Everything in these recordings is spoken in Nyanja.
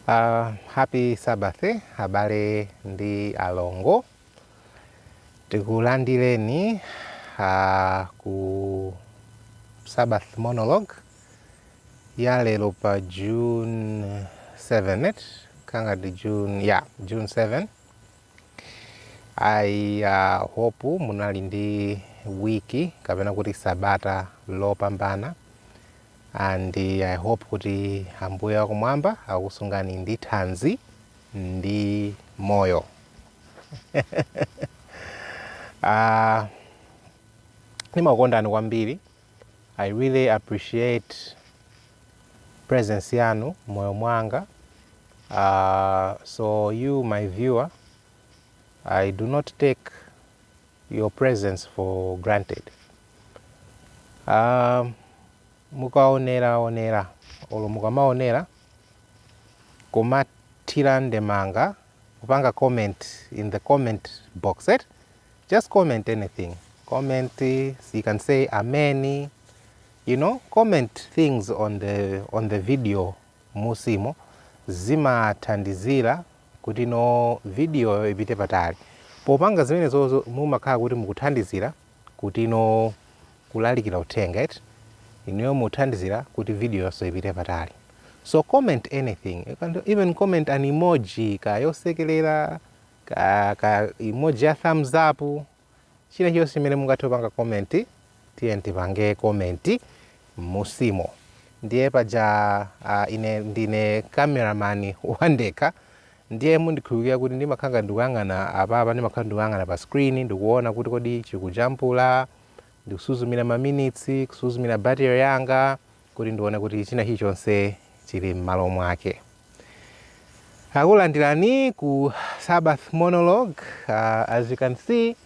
Uh, happy Sabbath abale ndi alongo, tikulandireni uh, ku Sabbath monologue ya lero pa June 7 eti kanga ndi June ya yeah, June 7 eti I uh, hope munali ndi wiki kapena kuti sabata lopambana And I hope kuti Ambuye wakumwamba akusungani ndi thanzi ndi moyo. Ah, ndimakukondani kwambiri. I really appreciate presence yanu m'moyo mwanga. Ah, so you my viewer, I do not take your presence for granted uh, mukaonera onera olo mukamaonera kumathira ndemanga kupanga comment in the comment box it just comment anything comment eh, you can say amen you know comment things on the on the video m'musimo zimathandizira kuti no vidiyoyo ipite patali. Popanga zimenezozo mumakhala kuti mukuthandizira kuti no kulalikira uthenga eti inuyo muthandizira kuti vidiyoyonso ipite patali. So comment anything, you can even comment an emoji ka yosekelera ka, ka emoji ya thumbs up. chilichonse chimene mungathe kupanga comment tiyeni tipange comment m'musimo ndiye paja ah, ine ndine cameraman wandekha ndiye mundikhululukira kuti ndimakhala ndikuyang'ana apapa ndimakhala ndikuyang'ana pa screen ndikuona kuti kodi chikujambula ndikusuzumira maminitsi kusuzumira battery yanga kuti ndione kuti china chilichonse chili m'malo mwake. Takulandirani ku Sabbath monologue. Uh, as you can see,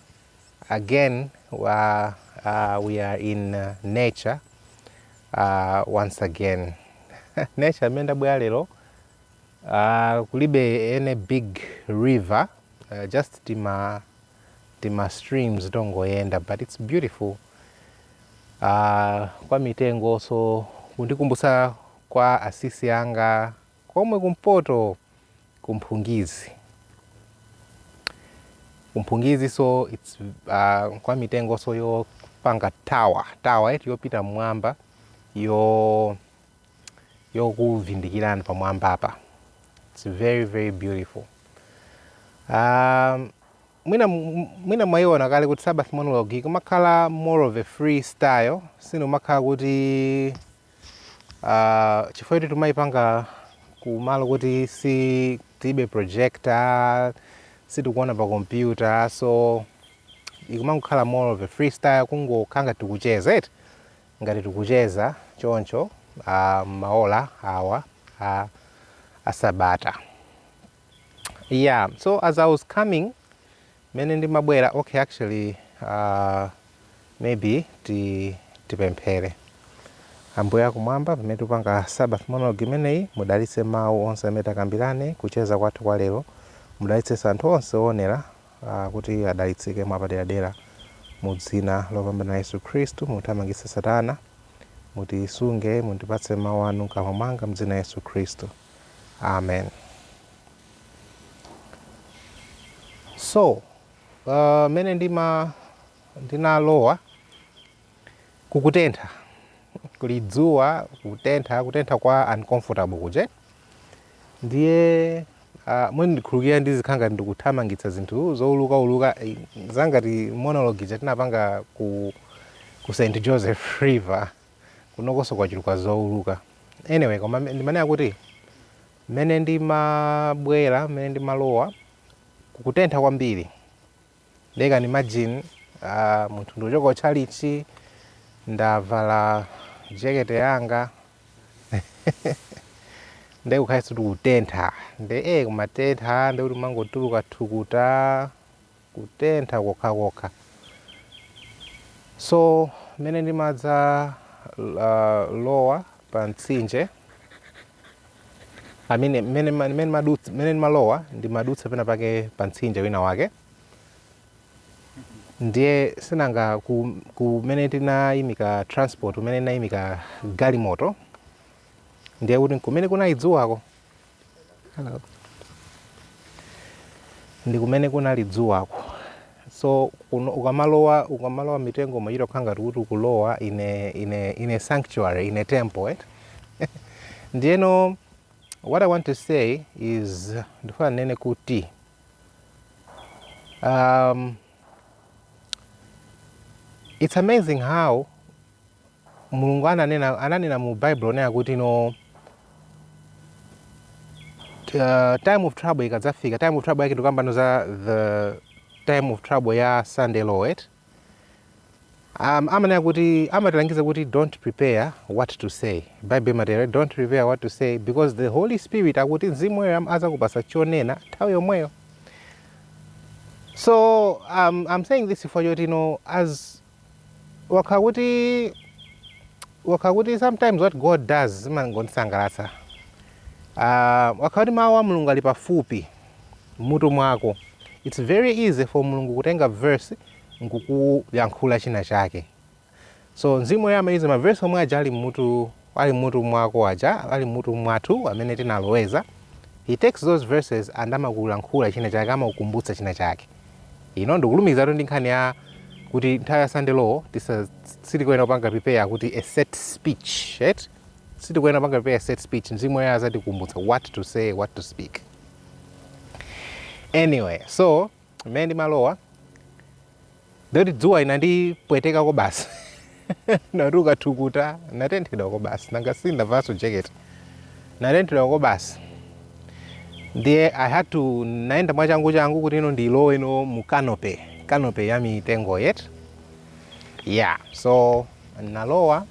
again, uh, uh, we are in uh, nature uh, once again. nature imene ndabwera lero uh, kulibe any big river uh, just tima tima streams tongoyenda but it's beautiful Ah, kwa mitengonso kundikumbutsa kwa asisi anga komwe kumpoto ku Viphya ku Viphya so it's uh, kwa mitengonso yopanga tawa tawa eti yopita mmwamba yo yokuvindikirani pamwamba apa it's very very beautiful um, Mwina mwina mwaiona kale kuti Sabbath monologue ikumakhala more of a free style, sindikumakhala kuti uh, chifukwa kuti tikumayipanga kumalo kuti si tilibe projector sitikuona pa kompyuta so ikumangokhala more of a freestyle kungokhala ngati tikucheza eti ngati tikucheza choncho uh, m'maola awa a, a sabata Yeah, so as I was coming, mene ndimabwera, okay, actually, uh, maybe ti, tipemphere. Ambuye akumwamba, pamene tikupanga Sabbath monologue imeneyi, mudalitse mawu onse amene takambirane, kucheza kwathu kwa lero, mudalitsenso anthu onse oonera uh, kuti adalitsike mwapaderadera mu dzina lopambana Yesu Khristu, muthamangitse Satana, mutisunge, mundipatse mawu anu mkamwa mwanga m'dzina Yesu Khristu. amen so uh, mene ndima ndinalowa kukutentha kuli dzuwa kutentha kutentha kwa uncomfortable kuja ndiye uh, mundikhululukire ndizikhala ngati ndikuthamangitsa zinthu zouluka uluka eh, zangati monologue ija tinapanga ku, ku st joseph river kunokoso kwachuluka zouluka anyway koma me- ndimanena kuti mmene ndimabwera mmene ndimalowa kukutentha kwambiri nde can you imagine uh, munthu ndikuchoka kutchalitchi ndavala jekete yanga nde kukhalanso kuti kutentha nde e kumatentha nde kuti umangotuluka thukuta kutentha kokhakokha so mmene ndimadzalowa pa mtsinje amene mmene ma- mmene madutsa- mmene ndimalowa ndimadutsa pena pake pa mtsinje wina wake ndiye sinanga ku- kumene tinayimika transport kumene tinayimika galimoto ndiye kuti kumene kunali dzuwako Hello. ndi kumene kunali dzuwako so kuno ukamalowa ukamalowa mitengo umachita kukhala ngati kuti ukulowa in a in a in a sanctuary in a temple eh? ndiyeno what i want to say is ndifuna ndinene kuti um, It's amazing how Mulungu ananena, ananena mu Bible onena kuti no uh, time of trouble ikadzafika time of trouble yake ndikukamba pano za the time of trouble ya Sunday Law Am, amanena kuti amatilangiza kuti don't prepare what to say bible imatero don't prepare what to say because the holy spirit akuti mzimu woyera azakupasa chonena nthawi yomweyo so um, i'm saying this chifukwa choti no ukakhala kuti ukakhala kuti sometimes what god does zimangondisangalatsa uh, ukakhala kuti mawu a mulungu ali pafupi m'mutu mwako it's very easy for mulungu kutenga verse nkukuyankhula china chake. So Mzimu Woyera amayuza ma verse omwe aja ali mmutu ali mmutu mwako aja, ali mmutu mwathu amene tinaloweza. He takes those verses and amakulankhula china chake, amakukumbutsa china chake. You know, ndikulumikizatu ndi nkhani ya kuti nthawi ya Sunday law tisa sitikuyenera kupanga prepare kuti a set speech, right? Sitikuyenera kupanga prepare a set speech. Mzimu Woyera azatikumbutsa what to say, what to speak. Anyway, so mmene ndimalowa ndikuti dzuwa inandipweteka kwabasi natuka thukuta natenthedwa kwabasi nanga si ndavalanso jacket natenthedwa kwabasi ndiye i had to naenda mwachangu changu kuti ino ndilowe ino mu canopy canopy ya mitengo yet yeah so nalowa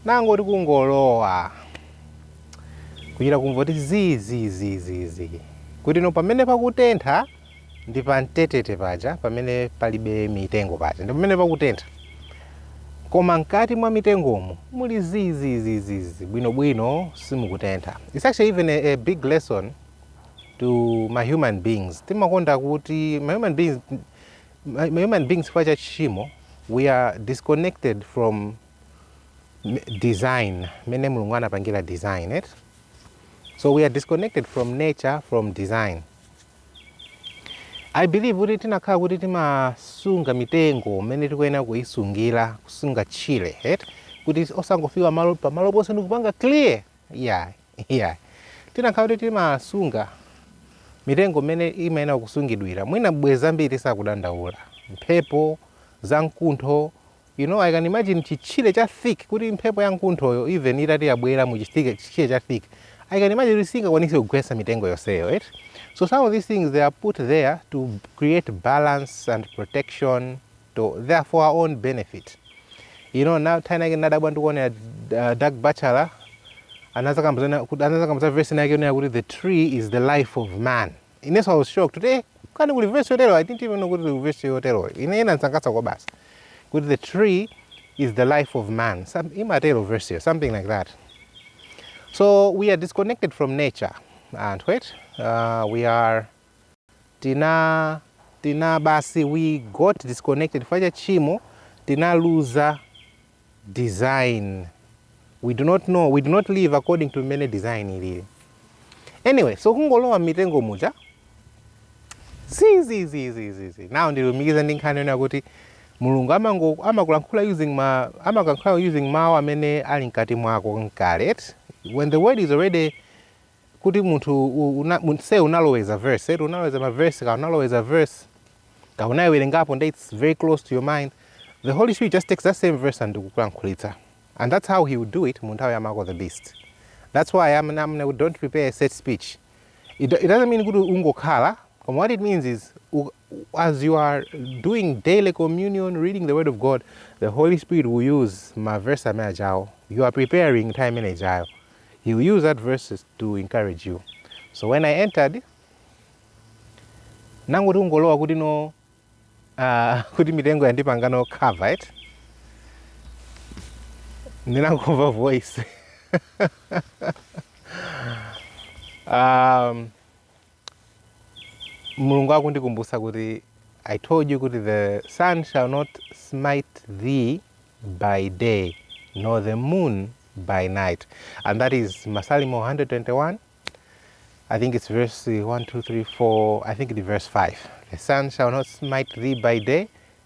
nangoti kungolowa kuchita kumva kuti zii zii zii zii zii kuti no pamene pakutentha ndi pamtetete paja pamene palibe mitengo paja ndi pamene pakutentha koma mkati mwa mitengomu muli zii zii zii zii zii bwinobwino simukutentha its actually even a, a big lesson to ma human beings timakonda kuti ma human beings ma human beings chifukwa cha tchimo we are disconnected from design mmene mulungu anapangira design eti so we are disconnected from nature from design i believe kuti tinakhala kuti timasunga mitengo mmene tikuyenera kuisungira kusunga tchire right kuti osangofika malo pamalo paliponse ndikupanga clear yeah Iyayi. Tinakhala kuti timasunga mitengo mmene imayenera kusungidwira. Mwina bwenzi ambiri sitikudandaula. Mphepo za mkuntho, you know, I can imagine chitchire cha thick kuti mphepo ya mkunthoyo even itati yabwera mu chithick- chitchire cha thick, I can imagine kuti singakwanise kugwetsa mitengo yonseyo, eti? So some of these things they are put there to create balance and protection. to their for our own benefit you know nthawi ina yake nadabwa ndikuonera uh, Doug Batchelor anazakamba zonena kuti anazakamba za verse yake yonena kuti the tree is the life of man inenso I was shocked kuti eh kani kuli verse yotero I didn't even know kuti kuli verse yotero ine inandisangalatsa kwabasi kuti the tree is the life of man Some, imatero verseyo something like that so we are disconnected from nature anthu right uh, we are tina tina basi we got disconnected chifukwa cha tchimo tinaluza design we do not know we do not live according to mmene design ilili anyway so kungolowa mmitengo muja zizizizizizi now ndikulumikiza ndi nkhani yonena kuti mulungu amango- amakulankhula using ma amakulankhula using mawu amene ali mkati mwako kale eti when the word is already kuti munthu u- una- mun- se unaloweza verse eti unaloweza maverse ka unaloweza verse ka unayiwerengapo nde its very close to your mind the holy spirit just takes that same verse and kukulankhulitsa and that's how he would do it mu nthawi ya mark of the beast that's why amene amene kuti don't prepare a set speech it, do- it doesn't mean kuti ungokhala koma what it means is u- as you are doing daily communion reading the word of god the holy spirit will use maverse amene ajawo you are preparing nthawi imene ijayo He will use that verses to encourage you. So when I entered, nangoti kungolowa kuti no uh, kuti mitengo yandipanga no cover eti ndinangomva voice um, Mulungu akundikumbutsa kuti I told you kuti the sun shall not smite thee by day nor the moon by night and that is Masalimo 121 I think it's verse 1 2 3 4 I think it verse 5 the sun shall not smite thee by day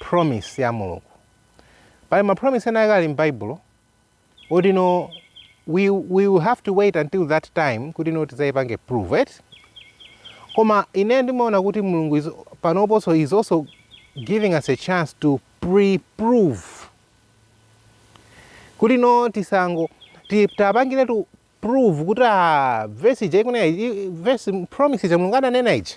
promise ya Mulungu. Pali ma promise ena ake ali m'Baibulo oti no we, we will have to wait until that time kuti no tidzayipange prove it koma ine ndimaona kuti mulungu is- panoponso is also giving us a chance to pre-prove kuti no tisango ti- tapangire tu prove kuti a vesi ija ikunena ija- vesi promise ija mulungu ananena ija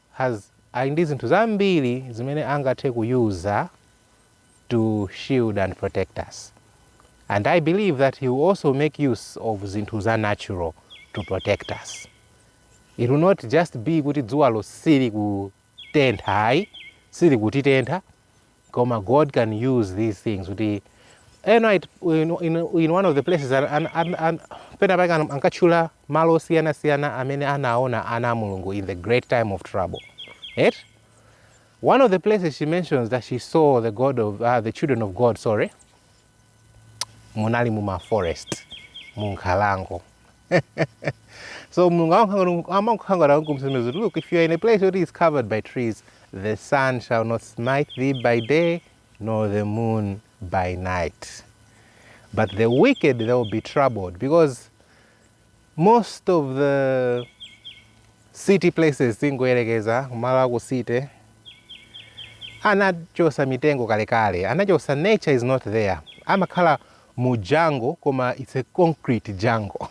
has ali ndi zinthu zambiri zimene angathe ku use-a to shield and protect us and I believe that he will also make use of zinthu za natural to protect us. It will not just be kuti dzuwalo sili kutentha ayi, sili kutitentha, koma god can use these things kuti ena it- in, in, in one of the places an, an, an, an, pena pake an- ankatchula malo osiyanasiyana amene anaona ana a mulungu in the great time of trouble right? one of the places she mentions that she saw the god of uh, the children of god sorry munali mu ma forest mu nkhalango so mulungu amakukhanga- amakukhangana kumsonyeza kuti look if you are in a place where it is covered by trees the sun shall not smite thee by day nor the moon by night but the wicked they will be troubled because Most of the city places tingoyerekeza kumalo a ku city anachosa mitengo kalekale, anachosa nature is not there, amakhala mu jungle koma it's a concrete jungle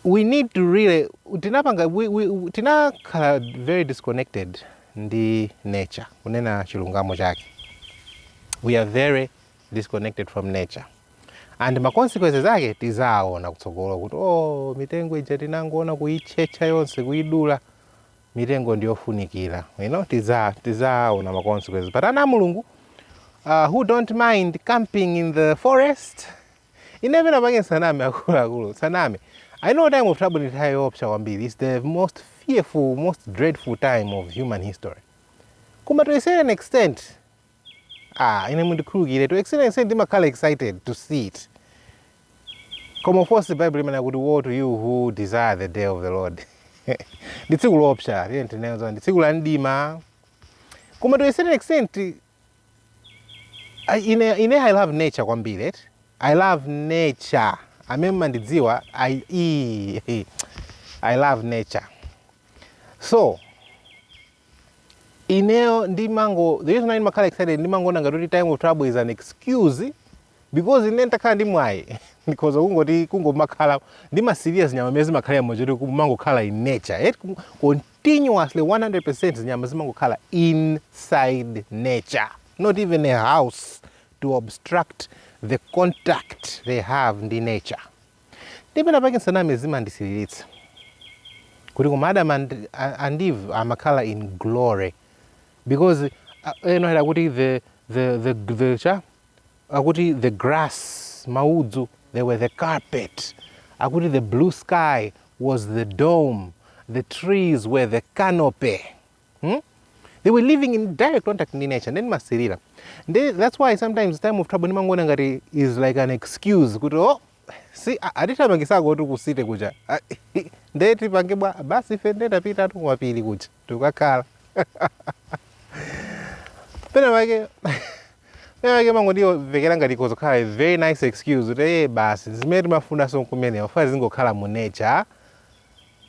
we need to really tinapanga we, we, tinakhala very disconnected ndi nature kunena chilungamo chake we are very disconnected from nature and ma consequences ake tidzaona kutsogolo kuti oh, mitengo ija tinangoona kuitchetcha yonse kuidula mitengo ndiyofunikira you know, tidza tidzaona ma consequences but ana a Mulungu uh, who don't mind camping in the forest ine pena pake ndisaname akuluakulu ndisaname i know time of trouble ndi nthawi yoopsa kwambiri its the most fearful most dreadful time of human history koma to a certain extent Ah, ine mundikhululukiretu honestly ndimakhala excited to see it koma of course bible imanena kuti woe to you who desire the day of the lord ndi tsiku loopsa tiyeni tinene zona ndi tsiku la mdima koma to a certain extent I- ine ine i love nature kwambiri eti i love nature amene mandidziwa i i- i love nature so Ineyo ndimango, the reason why ndimakhala excited ndimangoona ngati kuti time of trouble is an excuse because ine nditakhala ndi mwayi ndikhoza kungoti kungomakhala ndimasirira zinyama zimene zimakhala moyo woti kumangokhala in nature eh, kum- continuously 100% zinyama zimangokhala inside nature not even a house to obstruct the contact they have ndi nature Ndiye pena pake nsaname zimandisiririsa kuti koma Adam and, and Eve amakhala in glory because uh, Ellen White akuti the, the, the, the, cha akuti the grass maudzu they were the carpet akuti the blue sky was the dome the trees were the canopy Hmm? They were living in direct contact ndi nature ndimasirira. Ndi that's why sometimes time of trouble ndimangoona ngati is like an excuse kuti oh si a- atithamangisa kuti ku city kuja. Ah, Nde tipange bwa? Basi ife nde tapitatu kumapiri kuja. Tikakhala. Pena pake pena pake imangondimvekera ngati kudzakhala a very nice excuse kuti eh basi zimene timafunanso kumene tizingokhala mu nature.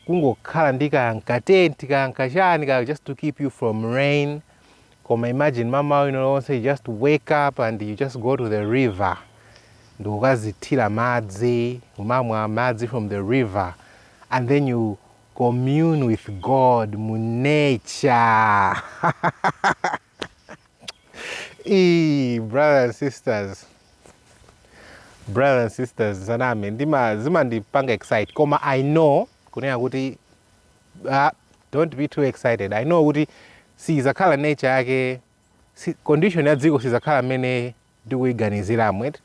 kungokhala ndi kaya nkatenti kaya nkachani kaya just to keep you from rain koma imagine mmamawa ulionse you just wake up and you just go to the river ndikukadzithira madzi kumamwa madzi from the river and then you commune with god mu nature Eee, brothers and sisters brothers and sisters nsaname ndima zimandipanga excite koma i know kunena kuti ah, don't be too excited i know kuti sizakhala nature yake si, condition ya dziko sizakhala mmene ndikuiganiziramu eti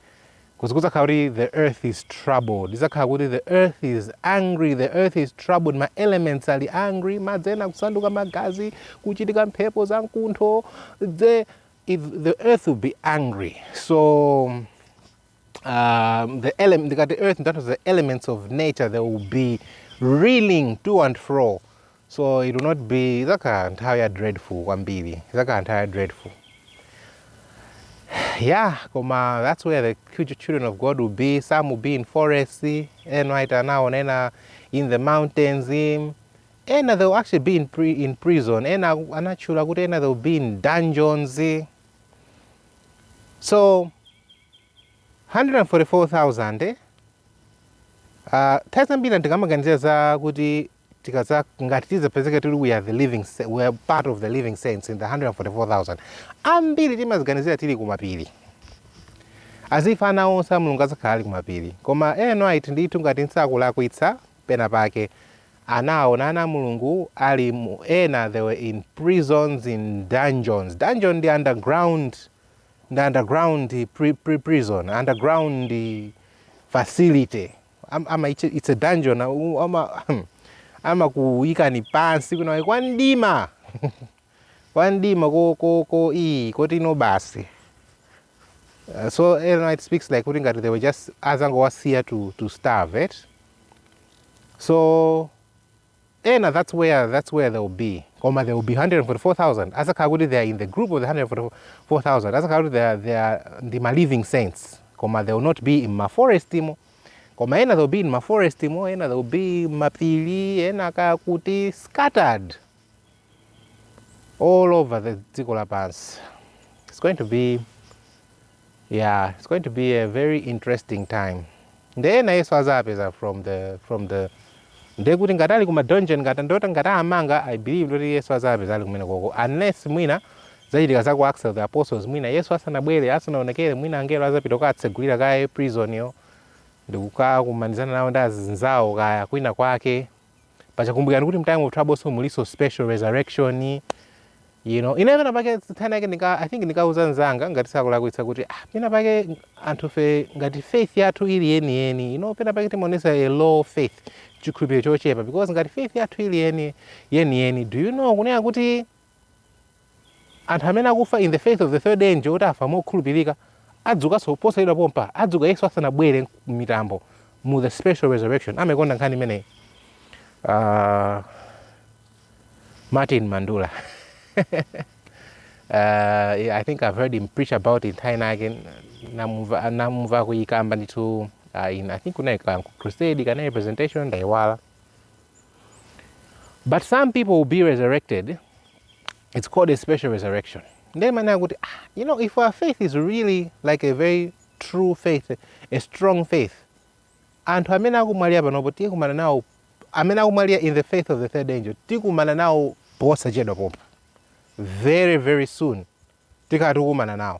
kudza- kudzakhala kuti the earth is troubled idzakhala kuti the earth is angry the earth is troubled ma elements ali angry madzi ena kusanduka magazi kuchitika mphepo za mkuntho the, if the earth will be angry so um, the element ndikati earth ndikutanthauza the elements of nature they will be reeling to and fro So it will not be idzakhala nthawi ya dreadful kwambiri idzakhala nthawi ya dreadful yeah koma that's where the faithful children of god will be some will be in forests Ellen White anaona ena in the mountains in- ena they will actually be in, pri in prison ena aku- anatchula kuti ena they will be in dungeons so 144,000 eh? Uh, ta ambiri tikamaganizira za kuti tikadza ngati tidzapezeka tili we are the living sa- we are part of the living saints in the 144000 ambiri timaziganizira tili kumapiri as if ana onse a mulungu adzakhala ali kumapiri koma Ellen White ndithu ngati nsakulakwitsa pena pake anaona ana a mulungu ali mu ena they were in prisons in dungeons dungeon ndi underground ndi underground pri, pri, prison underground facility Am- ama it's a- it's a dungeon au- ama amakuyikani pansi kwinawe kwa mdima kwa mdima ko ko ko iyi koti ino basi Uh, so Ellen White speaks like kuti ngati they were just azangowasiya to, to starve it so Ena that's where that's where they will be koma they will be 144,000 azakhala kuti they are in the group of the 144,000 azakhala kuti they are, they are ndi ma living saints koma they will not be in ma forest mo koma ena they will be in ma forest mo ena they will be mapiri ena kaya kuti scattered all over the dziko lapansi it's going to be Yeah, it's going to be a very interesting time. Nde ena yesu azapeza from the from the nde kuti ngati ali kuma dungeon ngati ndithu ngati amanga I believe ndithu yesu azapeza ali kumene koko unless mwina zachitika za ku Acts of the Apostles mwina yesu asanabwere asanaonekere mwina angelo azapita kukatsegulira kaye prison yo ndikukakumanizana nawo ndi azinzawo kaya kwina kwake paja kumbukirani kuti mtime of troublemo muliso special resurrection you know ine pena pake nthawi inayake nika i think ndinkauza nzanga ngati sindikulakwitsa kuti ah pena pake anthu fe ngati faith yathu ili yeni yeni you know pena pake timaonesa a low faith chikhulupiriro chochepa because ngati faith yathu ili yeni yeni yeni do you know kunena kuti Anthu amene akufa in the faith of the third angel kuti afa mokhulupirika adzukanso posachedwa pompa adzuka Yesu asanabwere m'mitambo mu the special resurrection amaikonda nkhani imeneyi uh, Martin Mandula uh, yeah, I think I've heard him preach about it nthawi inayake namumva akuyikamba ndithu uh, in, I think kunali ku crusade kaya ndi presentation ndayiwala but some people will be resurrected it's called a special resurrection ndiye ndimanena kuti ah, you know if our faith is really like a very true faith a strong faith anthu amene akumwalira panopo tikumana nawo amene akumwalira in the faith of the third angel tikumana nawo posachedwa pompa very very soon tikhala tikumana nawo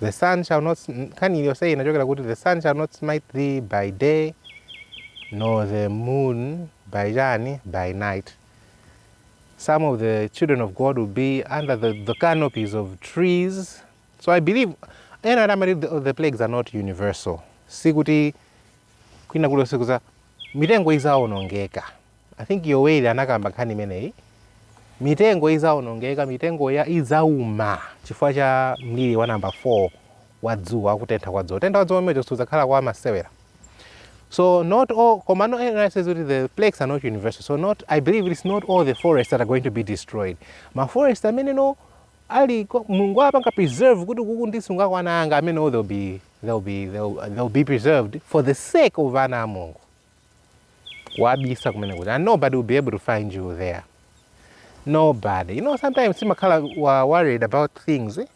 The sun shall not, nkhani iliyonse inachokera kuti the sun shall not smite thee by day nor the moon by chani by night some of the children of god will be under the, the canopies of trees so i believe ena ati amati the, the plagues are not universal sikuti kwina kulikonse kuza mitengo izaonongeka I think Yoweli anakamba nkhani imeneyi. Mitengo izaonongeka, mitengo ya izauma chifukwa cha mliri wa number 4 wa dzuwa wa kutentha kwa dzuwa. Kutentha kwa dzuwa kumeneko sikudzakhala kwa masewera. So not all, koma no ena says kuti the plagues are not universal. So not, I believe it's not all the forests that are going to be destroyed. Ma forest amene no ali ko- Mulungu apanga preserve kuti kuku ndisungeko ana anga amene they'll be they'll be they'll, they'll be preserved for the sake of ana a Mulungu. wabisa kumene kuti and nobody will be able to find you there nobody you know sometimes timakhala worried about things eh?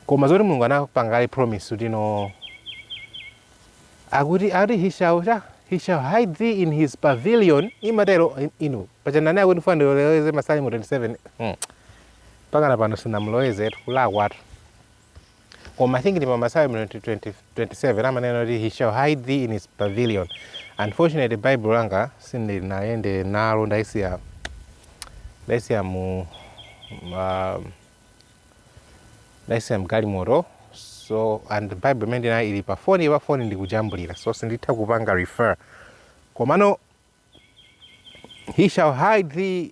koma zoti mulungu anapanga kale promise kuti no akuti akuti he shall cha he shall hide thee in his pavilion imatero inu paja ndinati ndikufuna ndiloweze masalimo 27 hmm. pakana pano sinamuloweze kulakwatu koma i think ndi pa masalimo 20 20 27 amanena kuti he shall hide thee in his pavilion unfortunately bible langa sindinayende nalo ndaisiya ndaisiya mu ma- ndaisiya mgalimoto so and bible imene ndinayi ili pa foni pa foni ndikujambulira so sinditha kupanga refer komano he shall hide thee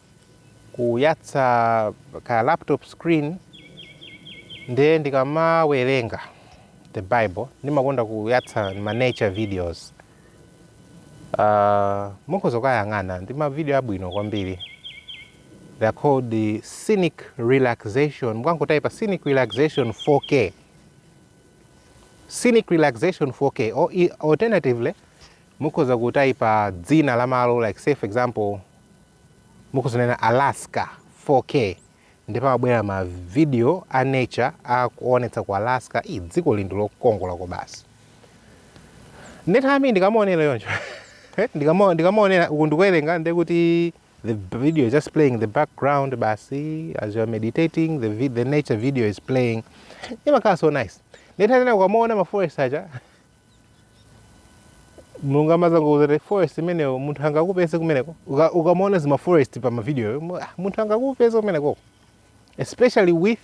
kuyatsa ka laptop screen nde ndikamawerenga the bible ndimakonda kuyatsa ma nature videos uh, mukhoza kukayang'ana ndi mavidiyo abwino kwambiri they are called the scenic relaxation mukangotayipa scenic relaxation 4k scenic relaxation 4k or i- alternatively mukhoza kutayipa dzina la malo like say for example Mukuzalemba Alaska 4K ndipo amabwera ma video a nature akuonetsa ku Alaska ii dziko ili ndi lokongola kobasi ndithami ndikamaonera yoncho ndikama ndikamaonera uku ndikuwerenga ndi kuti the video is just playing in the background basi as you are meditating the, vi, the nature video is playing imakhala so nice ndithanena ukamaona ma forest aja mulungu amazangokuuza kuti forest imeneyo munthu angakupeze kumeneko Uka- ukamaona zimaforest pa mavidiyo mu- ah, munthu angakupeze kumeneko especially with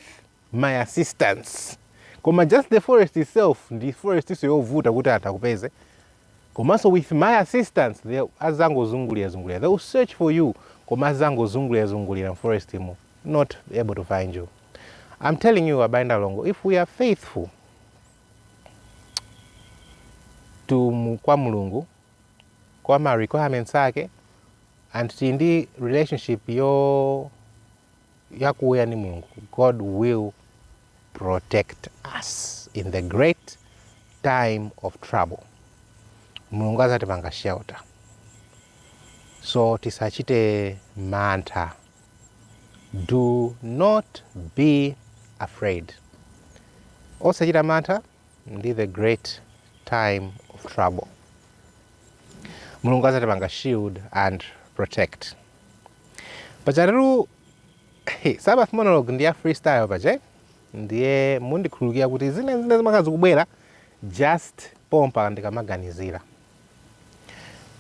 my assistance koma just the forest itself ndi forest so yovuta kuti anthu akupeze komanso with my assistance they azangozungulira zungulira they will search for you koma azangozungulira zungulira mforest mu not able to find you i'm telling you abale ndi alongo if we are faithful to mu, kwa Mulungu kwa ma requirements ake and tili ndi relationship yakuya ndi Mulungu God will protect us in the great time of trouble Mulungu azatipanga shelter so tisachite mantha Do not be afraid. Osachita mantha ndi the great time of trouble. Mulungu azatipanga shield and protect. Pajatu Sabbath monologue ndi ya freestyle paja ndiye mundikhululukira kuti zinazina zimakhala zikubwera just pompa ndikamaganizira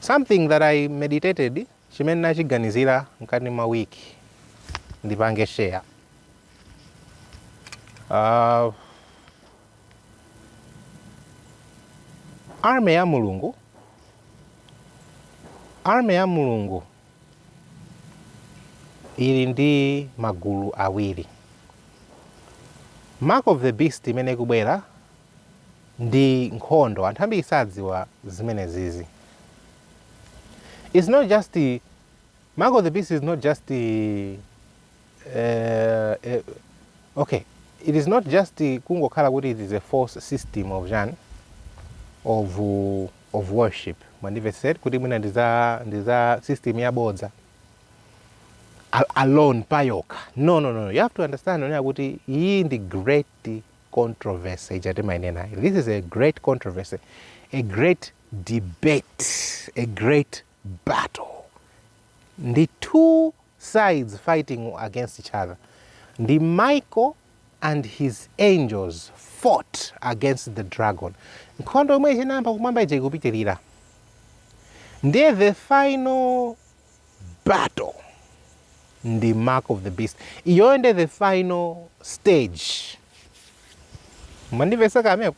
something that I meditated Chimene ndachiganizira mkati mwa week ndipange share uh, army ya mulungu army ya mulungu ili ndi magulu awiri mark of the beast imene ikubwera ndi nkhondo anthu ambiri sadziwa zimene zizi It's not just the Mark of the Beast is not just the uh, uh, okay. It is not just the kungokhala kuti it is a false system of jan of uh, of worship. Mandive said kuti mwina ndiza ndiza system ya bodza Al- alone payoka. No no no. You have to understand onena kuti iyi ndi great controversy ijati mainena. This is a great controversy. A great debate, a great battle, ndi two sides fighting against each other, ndi Michael and his angels fought against the dragon. Nkhondo yomwe inayamba kumwamba ija ikupitirira, ndiye the final battle ndi mark of the beast iyoyo nde the final stage mwandimvesa kaye apo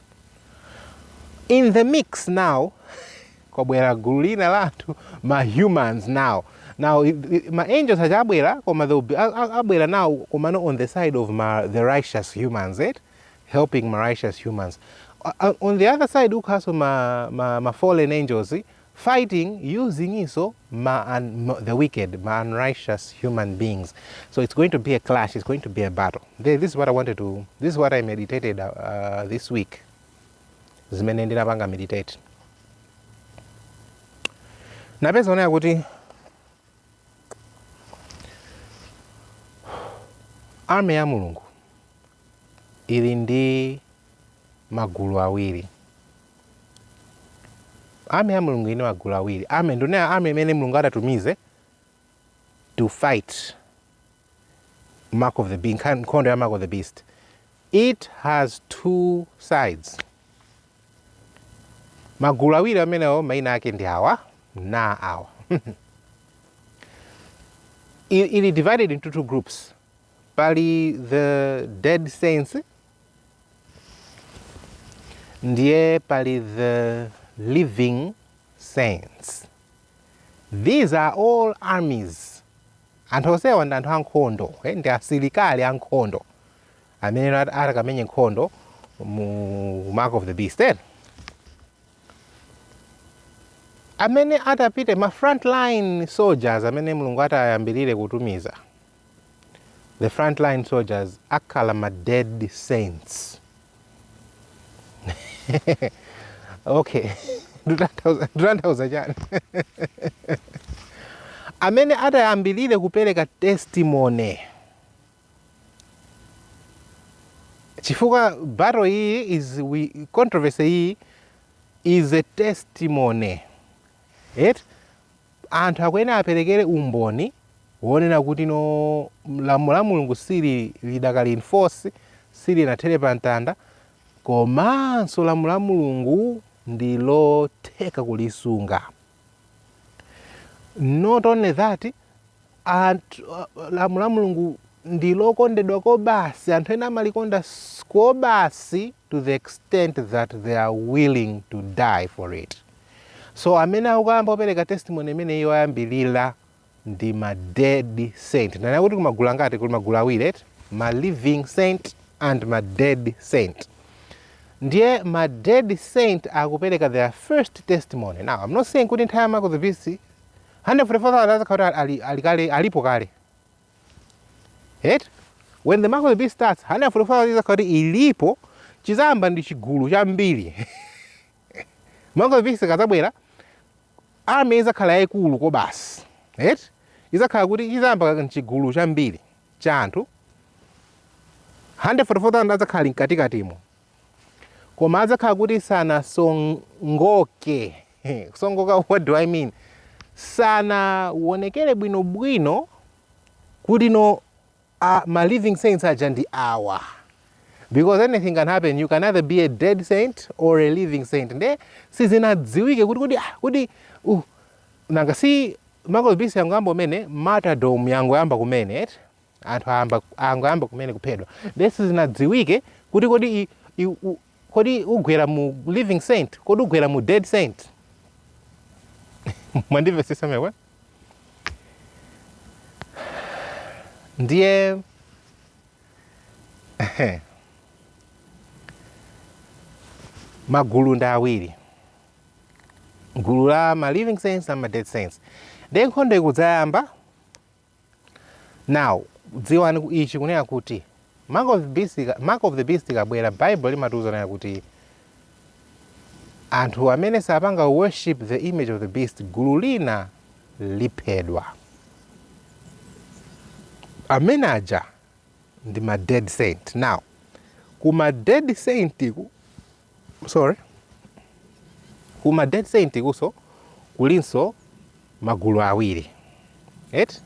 in the mix now kwabwera gulu lina la anthu ma humans now now ma angels aja abwera koma they will be abwera now koma no on the side of ma, the righteous humans eh? helping ma righteous humans uh, on the other side ukhaso ma, ma, ma fallen angels fighting usingiso ma un, the wicked ma unrighteous human beings so it's going to be a clash it's going to be a battle this is what i wanted to this is what i meditated uh, uh this week zimene ndinapanga meditate napeza onaya kuti army ya mulungu ili ndi magulu awiri Army ya Mulungu ili ndi magulu awiri. Army ndikunena army imene Mulungu adatumize to fight Mark of the Beast, nkhondo ya Mark of the Beast. It has two sides. Magulu awiri amenewo maina ake ndi awa na awa. Ili divided into two groups. Pali the dead saints ndiye pali the living saints these are all armies anthu onsewa ndi anthu ankhondo eh, ndi asilikali ankhondo amene at- atakamenye nkhondo mu mark of the beast eh? amene atapite ma frontline soldiers amene mulungu ati ayambirire kutumiza the frontline soldiers akhala ma dead saints okay tikutanthauza chani amene atayambirire kupereka testimony chifukwa battle iyi is we, controversy iyi is a testimony right? Anthu akuyenera aperekere umboni wonena kuti no lamulo la Mulungu sili lidakali in force, silinathere pa mtanda, komanso lamulo la Mulungu ndi lotheka kulisunga. Not only that, Anthu, lamulo la Mulungu ndi lokondedwa kobasi, anthu ena amalikonda kobasi to the extent that they are willing to die for it. So amene akukayamba kupereka testimony imeneyo oyambirira ndi ma dead saint. Nanga ati kuli magulu angati kuli magulu awiri eti? Ma living saint and ma dead saint. Ndiye ma dead saint akupereka their first testimony. Now, I'm not saying kuti nthawi ya Mark of the Beast 144,000 azakhala kuti ali, ali kale alipo kale eti when the mark of the beast starts 144,000 izakhala kuti ilipo chizayamba ndi chigulu chambiri mark of the beast ikazabwera army izakhala yayikulu kwambiri eti izakhala kuti chizayamba ndi chigulu chambiri cha anthu 144,000 azakhala ali mkatikatimo koma adzakhala kuti sanasongoke kusongoka what do i mean sanawonekere bwinobwino kuti no uh, ma living saints aja ndi awa because anything can happen you can either be a dead saint or a living saint nde sizinadziwike kuti kuti ah, kuti uh, nanga si mark of the beast yangoyamba kumene martyrdom yangoyamba kumene eti anthu ayamba angoyamba kumene kuphedwa nde sizinadziwike kuti kodi i- i- u- kodi ugwera mu living saint kodi ugwera mu dead saint mwandimvesesa eti ndiye magulu ndi awiri gulu la ma living saints la ma dead saints ndiye nkhondo ikudzayamba now dziwani ku- ichi kunena kuti mark of the beast ika- mark of the beast ikabwera bible limatiuza kunena kuti anthu amene sapanga worship the image of the beast gulu lina liphedwa amene aja ndi ma dead saint now kuma dead saint ku sorry ku ma dead saint kunso kulinso magulu awiri eti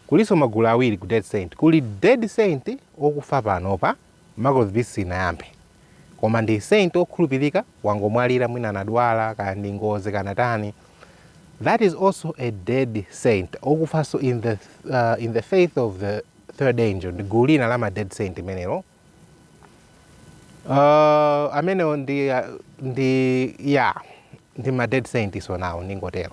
kulinso magulu awiri ku dead saint kuli dead saint okufa panopa mark of the beast isanayambe koma ndi saint okhulupirika wangomwalira mwina anadwala kana ndi ngozi kana tani that is also a dead saint okufanso in the, uh, in the faith of the third angel ndi gulu lina la ma dead saint limenelo Uh, amenewo ndi uh, ndi ya ndi ma dead saints onsewo ndingotero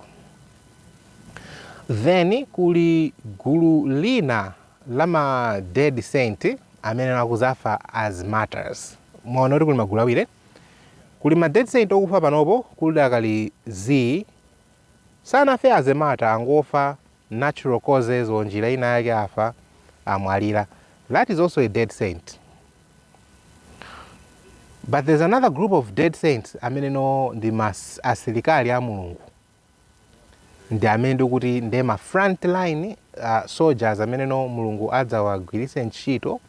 then kuli gulu lina la ma dead saint amene akuzafa as martyrs mwaona eti kuti kuli magulu awiri kuli ma dead saint okufa panopa kuli dakali z sanafe as a martyr angofa natural causes or njira ina yake afa, amwalira that is also a dead saint but there's another group of dead saints amene no ndi ma asilikali a Mulungu ndi amene ndikuti ndi ma front line uh, soldiers amenewo Mulungu adzawagwiritse ntchito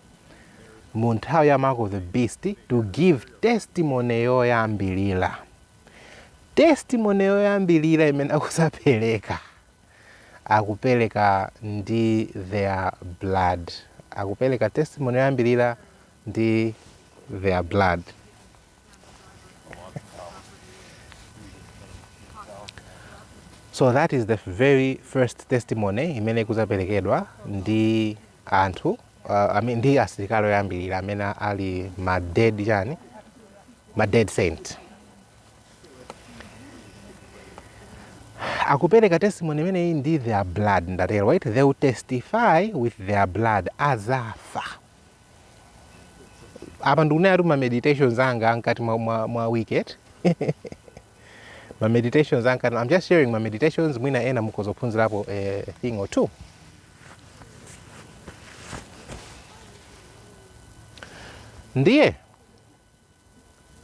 mu nthawi ya mark of the beast to give testimony yoyambirira testimony yoyambirira imene akudzapereka akupereka ndi their blood akupereka testimony yoyambirira ndi their blood so that is the very first testimony imene ikudzaperekedwa ndi anthu uh, I mean, ndi asilikali oyambirira amene ali ma dead chani ma dead saint akupereka testimony imeneyi ndi their blood ndatero right they will testify with their blood azafa apa ndikunena kuti ma meditations anga ankati mwa, mwa, mwa wicked ma meditations ankati i'm just sharing my meditations mwina ena mukhoza kuphunzirapo a thing or two ndiye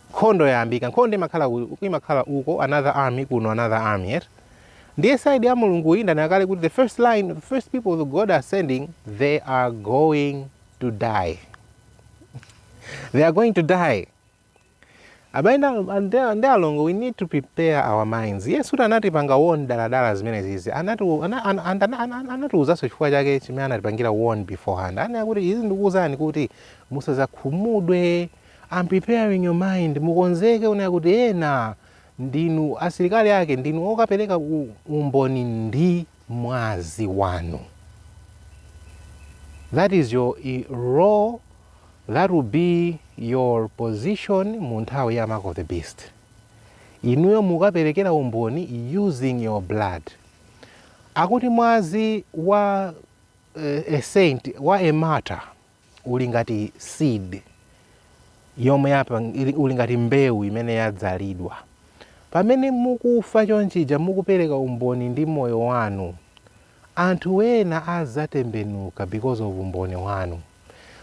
nkhondo yayambika nkhondo imakhala ku- imakhala uko another army kuno another army eti ndiye side ya mulungu iyi ndanena kale kuti the first line the first people that god are sending they are going to die they are going to die abale ndi alongo we need to prepare our minds Yesu Khristu anatipanga warn daladala zimenezizi Anatu- ana- ana- ana- ana- ana- anatiuzanso chifukwa chake chimene anatipangira warn beforehand anena kuti izi ndikuuzani kuti Musazakhumudwe, I'm preparing your mind, mukonzeke kunena kuti ena ndinu asilikali ake, ndinu okapereka umboni ndi mwazi wanu. That is your role, that will be your position mu nthawi ya mark of the beast. Inuyo mukaperekera umboni using your blood. Akuti mwazi wa uh, a saint, wa a martyr, uli ngati seed yomwe yapa uli ngati mbewu imene yadzalidwa pamene mukufa chonchija mukupereka umboni ndi moyo wanu anthu ena azatembenuka because of umboni wanu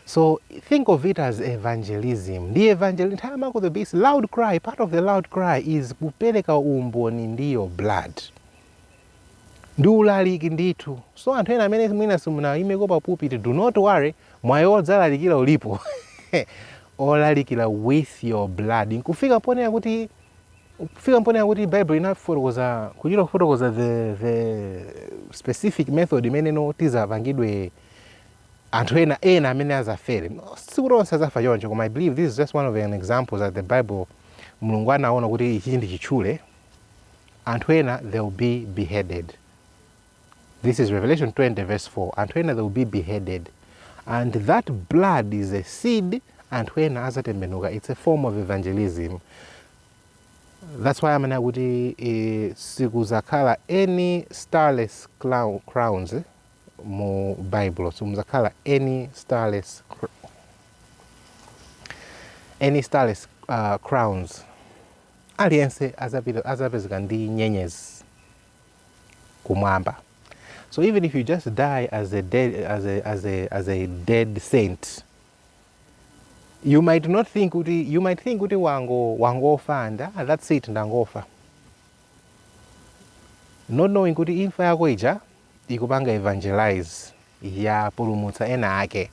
so think of it as evangelism ndi evangel nthawi ya mark of the beast loud cry part of the loud cry is kupereka umboni ndi your blood Ndi ulaliki ndithu. So anthu ena amene mwina simunaimepo pa pulpit, do not worry, mwayi wodzalalikira ulipo. wolalikira with your blood. Nkufika ponena kuti kufika ponena kuti Bible inafotokoza kuchita kufotokoza the the specific method imeneyo tizapangidwe anthu ena ena amene azafere sikuti onse azafa choncho koma i believe this is just one of an examples that the bible mulungu anaona kuti ichi ndi chitchule anthu ena they will be beheaded this is revelation 20 verse 4 anthu ena they will be beheaded and that blood is a seed anthu ena azatembenuka it's a form of evangelism that's why amene akuti eh, sikuzakhala any starless clou- crowns eh, mu bible simuzakhala any starless cr- any starless uh, crowns aliyense azapita azapezeka ndi nyenyezi kumwamba so even if you just die as a dead, as a, as a, as a dead saint you might not think kuti you might think kuti wango wangofa and ah, that's it ndangofa not knowing kuti imfa yako ija ikupanga evangelize yapulumutsa ena ake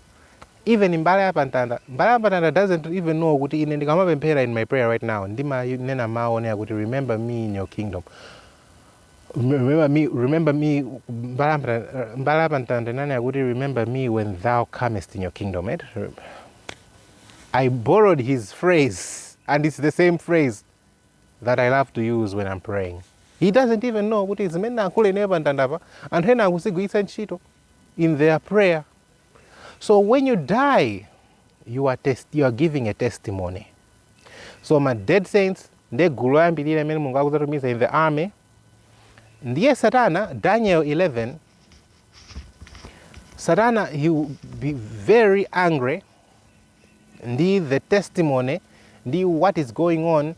even mbala ya pamtanda mbala ya pamtanda doesn't even know kuti ine ndikamapemphera in my prayer right now ndimanena mawu onena kuti remember me in your kingdom remember me remember me mbala ya pamtanda- mbala ya pamtanda inanena kuti remember me when thou comest in your kingdom right? I borrowed his phrase, and it's the same phrase. that I love to use when I'm praying. He doesn't even know kuti zimene nayankhula ineyo pa mtandapa anthu ena akuzigwiritsa ntchito in their prayer. So when you die, you are, test, you are giving a testimony. So ma dead saints nde gulu loyambirira limene Mulungu akudzatumiza in the army ndiye satana daniel 11 satana he will be very angry ndi the testimony ndi what is going on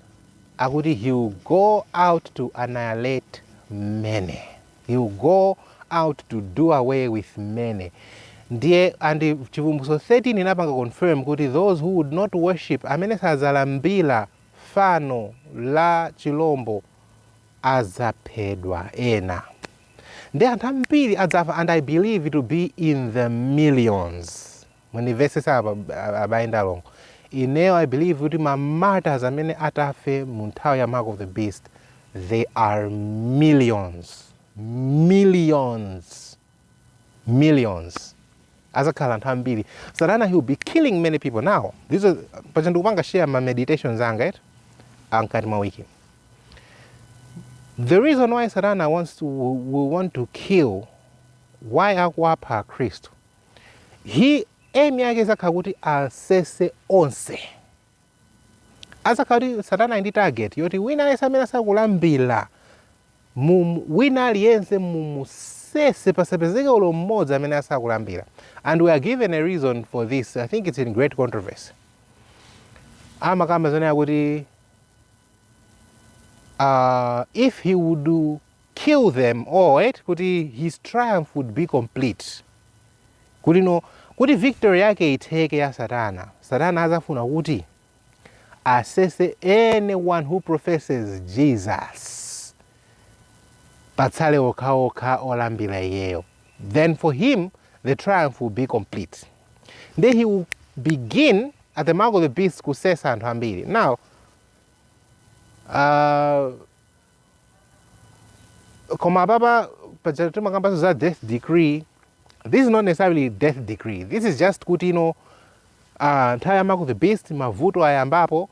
akuti he will go out to annihilate many he will go out to do away with many ndiye and chivumbutso 13 inapanga confirm kuti those who would not worship amene sazalambira fano la chilombo azaphedwa ena ndiye anthu ambiri adzafa and i believe to be in the millions Mundimvetsetse apa abale ndi alongo. Ineyo I believe kuti ma martyrs amene atafe mu nthawi ya mark of the beast they are millions, millions, millions. Azakhala anthu ambiri. Satana he will be killing many people now. These are paja ndikupanga share ma meditations anga eti amkati mwa wiki. The reason why Satana wants to will want to kill why akuwapha Akhristu His aim yake izakhala kuti asese onse. Azakhala kuti satana ali ndi target yoti wina aliyense amene asakulambira mu mu- wina aliyense mumusese pasapezeke ulo mmodzi amene asakulambira. And we are given a reason for this. I think it's in great controversy. Amakamba zonena kuti uh, if he would do kill them all akuti his triumph would be complete kuti no kuti victory yake itheke ya satana satana azafuna kuti asese anyone who professes jesus patsale okhaokha olambira iyeyo then for him the triumph will be complete nde he will begin at the mark of the beast kusesa anthu ambiri now uh, koma apapa paja timakambanso za death decree this is not necessarily death decree this is just kuti ino uh, nthawi ya mark of the beast mavuto ayambapo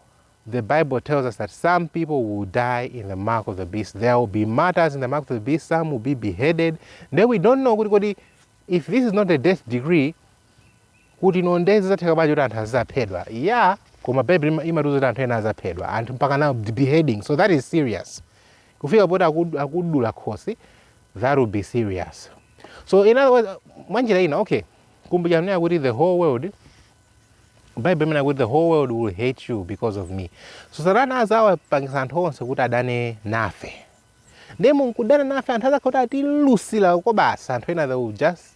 the bible tells us that some people will die in the mark of the beast there will be martyrs in the mark of the beast some will be beheaded then we don't know kuti kodi if this is not a death decree kuti no nde zizatheka bwanji kuti anthu azizaphedwa ya koma bible imatiuza kuti anthu ena azaphedwa anthu mpaka na beheading so that is serious kufika poti akud- akudula khosi that will be serious so in other words mwanjira ina okay kumbukira ndimanena kuti the whole world bible imanena kuti the whole world will hate you because of me so satana azawapangisa anthu onse kuti adane nafe ndiye munkudana nafe anthu azakhala kuti atilusira koopsa anthu ena they will just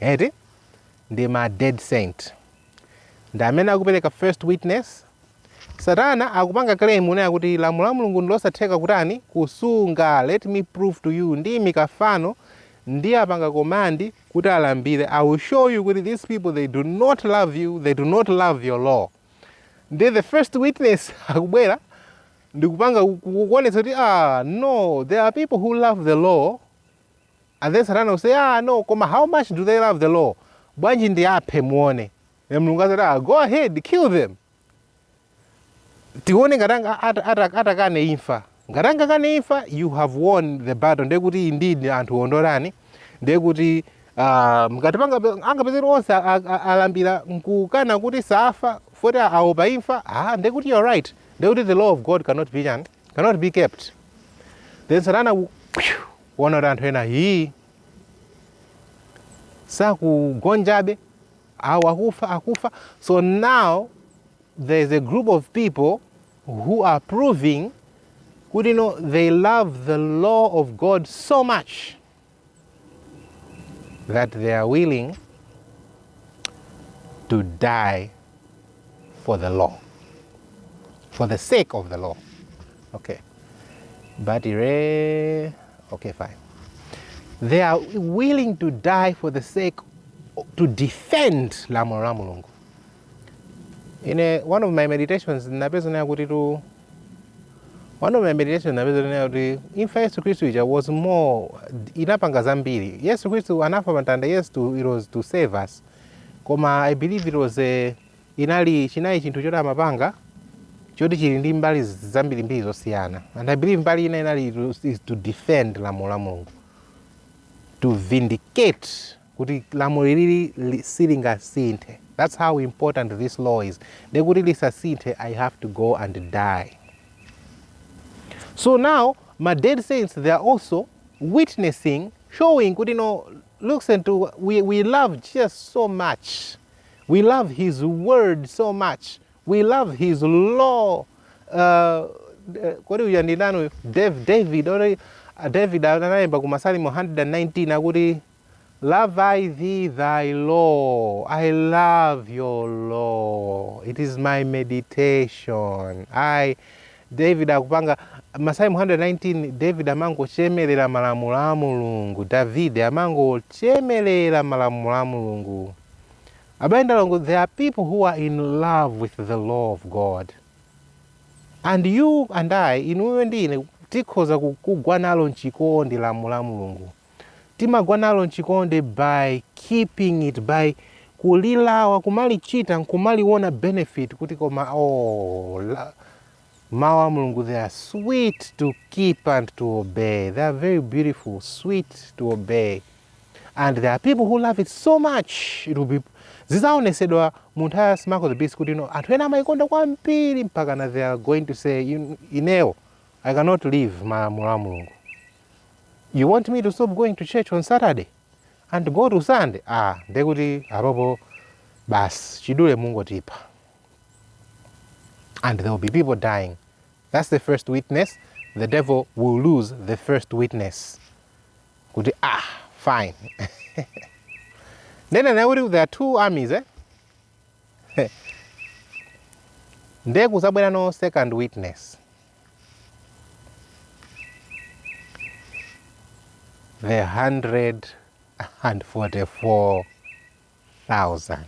eti ndi ma dead saint ndi amene akupereka first witness satana akupanga claim kunena kuti lamulo la mulungu ndilosatheka kutani kusunga let me prove to you ndiimika fano ndiapanga command kuti alambire i will show you kuti these people they do not love you they do not love your law nde the first witness akubwera ndikupanga kuonetsa kuti ah no there are people who love the law And then satana will say aah no koma how much do they love the law bwanji ndiaphe muone then mulungu azati ah go ahead kill them tione ngati anga- ata- ata- atakane imfa ngati angakane imfa you have won the battle ndiye kuti indeed anthu amandida ndiye kuti ah, ngati angape- angapezeke onse a- a- a- alambira nkukana kuti safa foti aopa imfa ah, ndiye kuti you're right ndiye kuti the law of god cannot be chani cannot be kept then satana ku- kuona kuti anthu ena hii sakugonjabe awo akufa akufa so now there is a group of people who are proving kuti no they love the law of god so much that they are willing to die for the law, for the sake of the law. Okay. But, okay, fine. They are willing to die for the sake to defend lamulo la mulungu ine one of my meditations ndinapeza nayo kuti tu one of my meditation napeza kunena kuti imfa ya yesu khristu ija was more inapanga zambiri yesu khristu anafa pamtanda yes to, it was to save us koma i believe it was a, inali chinali chinthu choti amapanga choti chili ndi mbali zambirimbiri zosiyana and i believe mbali ina inali to- is to defend lamulo la mulungu to vindicate kuti lamulo ilili silingasinthe that's how important this law is nde kuti lisasinthe i have to go and die so now ma dead saints they are also witnessing showing kuti no looks and to, we, we love jesus so much we love his word so much we love his law uh, kodi uja ndinanu david ori uh, david anayimba ku masalimo 119 akuti O how love I thy law, I love your law, it is my meditation. David akupanga Masalimo 119, David amangochemerera malamulo a Mulungu. David amangochemerera malamulo a Mulungu. Abale ndi alongo, there are people who are in love with the law of God. And you and I, inuyo ndi ine tikhoza kugwa nalo mchikondi lamulo la Mulungu. Timagwa nalo mchikondi by keeping it, by kulilabada, kumalichita nkumaliona benefit kuti koma ooh Mawu a Mulungu they are sweet to keep and to obey. They are very beautiful, sweet to obey. And there are people who love it so much. It will be zizaonesedwa mu nthawi ya mark of the beast kuti no, anthu ena amaikonda kwambiri mpaka na they are going to say ineo I cannot leave malamulo a Mulungu. you want me to stop going to church on saturday and go to sunday ah ndekuti apopo basi chidule mungotipha and there will be people dying that's the first witness the devil will lose the first witness kuti ah fine ndena naye kuti there are two armies eh? nde kuzabwera no second witness the 144,000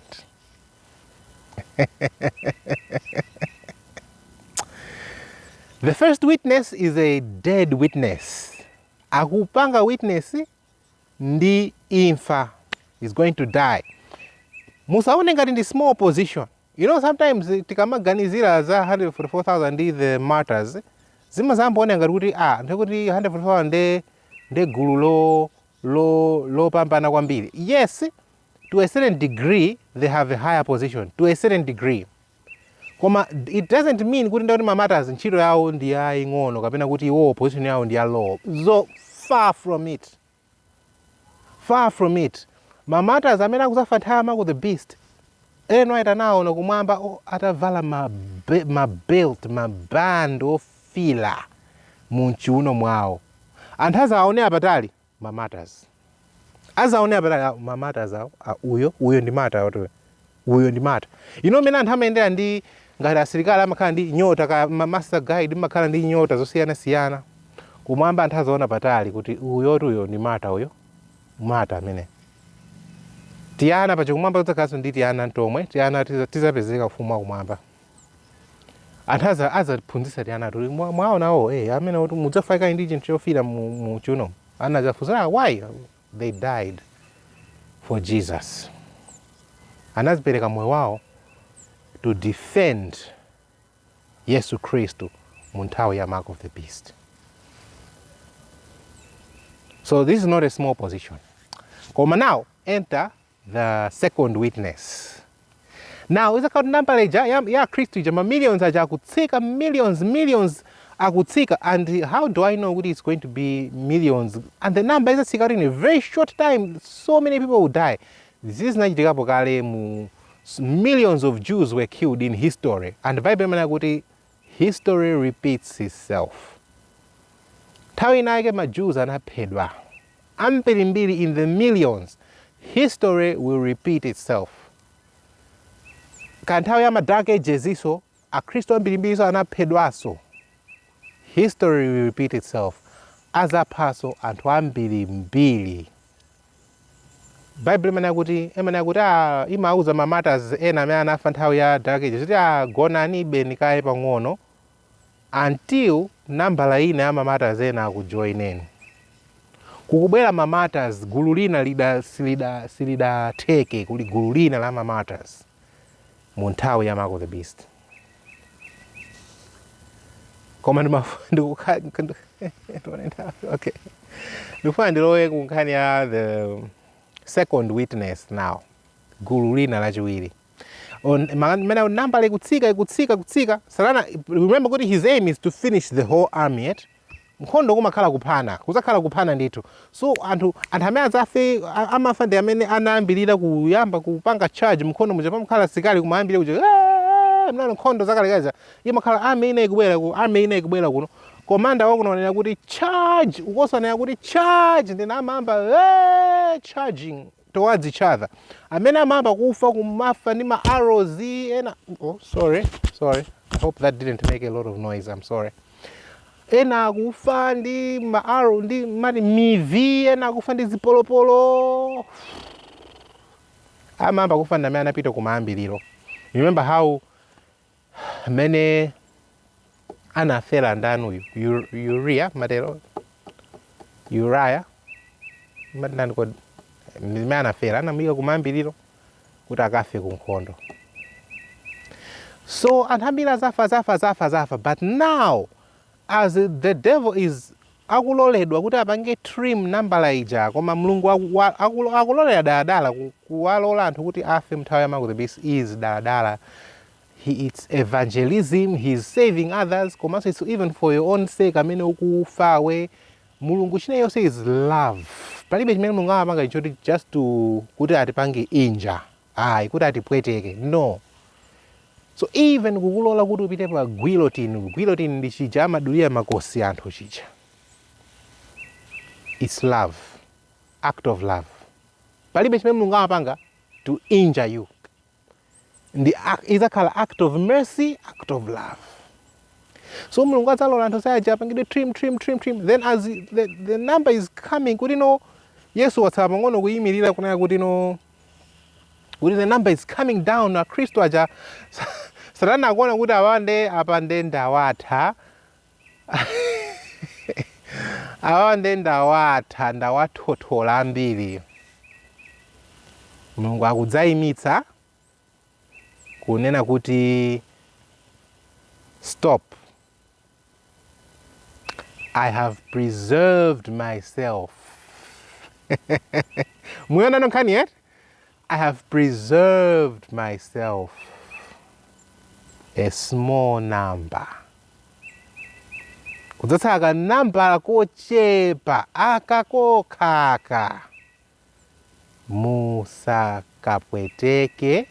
the first witness is a dead witness akupanga witness ndi imfa is going to die musaone ngati ndi small position You know sometimes tikamaganizira za 144,000 ndi the martyrs zimayamba kuoneka ngati kuti ah nthawi kuti 144,000 nde nde gulu lo lo lopambana kwambiri. Yes, to a certain degree they have a higher position to a certain degree. Koma it doesn't mean kuti nde kuti ma martyrs ntchito yawo ndi yaying'ono kapena kuti iwo position yawo ndi ya low. So far from it. Far from it, ma martyrs amene akuzafa nthawi ya mark of the beast, Ellen White anaona kumwamba o atavala ma be- ma belt, ma band ofiira mu mchiuno mwawo. Anthu azawaonera patali ma martyrs. Azaonera patali "Ah, ma martyrs awo, ah, uyo, uyo ndi martyr uyo. Uyo ndi martyr. You know mmene anthu amayendera ndi, ngati asilikali amakhala ndi nyota, kaya ma Master Guide mmakhala ndi nyota zosiyanasiyana. Kumwamba anthu azaonera patali kuti uyotu uyo ndi martyr uyo. Martyr ameneyo. Tiana paja kumwamba kudzakhalanso ndi tiana tomwe, tiana tiza- tizapezeka ufumu wa kumwamba. Anthu aza azaphunzitsa tiana tuli mwa- mwaona wo, eh amene kuti mudzafaika ndi chinthu chofiira mu mu chiuno. Ana azafunsa, ah why? They died for Jesus. Anazipereka moyo wawo to defend Yesu Khristu mu nthawi ya mark of the beast. So this is not a small position. Koma now enter the second witness now izakhala kuti number ija ya, ya akhristu ija ma millions aja akutsika millions millions akutsika and how do i know kuti it's going to be millions and the number izatsika kuti in very short time so many people will die izi zinachitikapo kale mu s- millions of jews were killed in history and bible imanena kuti history repeats itself nthawi inayake ma jews anaphedwa ambirimbiri in the millions history will repeat itself ku nthawi ya ma dark ages nso akhristu ambirimbiri nso anaphedwanso history will repeat itself azaphanso anthu ambirimbiri bible imanena kuti imanena kuti ah, imauza ma martyrs ena amene anafa nthawi ya dark ages kuti ah, gonani beni kaye pang'ono Until nambala ina ya ma martyrs ena akujoineni. Kukubwera ma martyrs gulu lina lida silida silidathe kuli gulu lina la ma martyrs mu nthawi ya mark of the beast. Koma ndimafuna ndikukha ndione nthawi, okay. Ndikufuna ndilowe ku nkhani ya the second witness now. Gulu lina lachiwiri. on mmene nambala ikutsika ikutsika kutsika satana remember kuti his aim is to finish the whole army eti nkhondo kumakhala kuphana kuzakhala kuphana ndithu so anthu anthu amene adzafe amafa ndi amene anayambirira kuyamba kupanga charge m'nkhondo muja pamakhala sikali kumayambiriro kuja "Ah, monga nkhondo zakalekale zija imakhala army ina ikubwera uku army ina ikubwera kuno komanda wakuno anena kuti charge ukonso anena kuti charge ndiye amayamba "Ah, charging towards each other amene amayamba kufa kumafa ndi ma arrows ena oh, sorry sorry i hope that didn't make a lot of noise i'm sorry ena akufa ndi ma arrow ndimati mivi ena akufa ndi zipolopolo amayamba kufa ndi amene anapita kumayambiriro remember how mmene anafera ndani uyu Yu- uria matero uraya mumati ndani kodi mmene anafera anamuyika kumayambiriro kuti akafe ku nkhondo so anthu ambiri azafa azafa azafa azafa but now As the devil is akuloledwa kuti apange trim nambala ija koma Mulungu wa wa akulo akulolera daladala ku kuwalola anthu kuti afe mnthawi ya mark of the beast is daladala he its evangelism he is saving others komanso its even for your own sake amene ukufawe Mulungu china chonse is love palibe chimene Mulungu amapanga choti just kuti atipange injure. ayi kuti atipweteke no so even kukulola kuti upite pa guillotine guillotine ndi chija amadulira makosi anthu chija its love act of love palibe chimene mulungu amapanga to injure you ndi idzakhala act of mercy act of love so mulungu adzalola anthu sayaja apangidwe trim trim trim trim then as the, the number is coming kuti no yesu watsala pang'ono kuyimirira kunena kuti no kuti the number is coming down akhristu aja satana akuona kuti awa nde apa nde ndawatha awa nde ndawatha ndawathothola ambiri mulungu akudzayimitsa kunena kuti stop I have preserved myself. Mwayiona nkhaniyi? I have preserved myself a small number. Kudzatsala ka nambala kochepa aka kokhaka. musakapweteke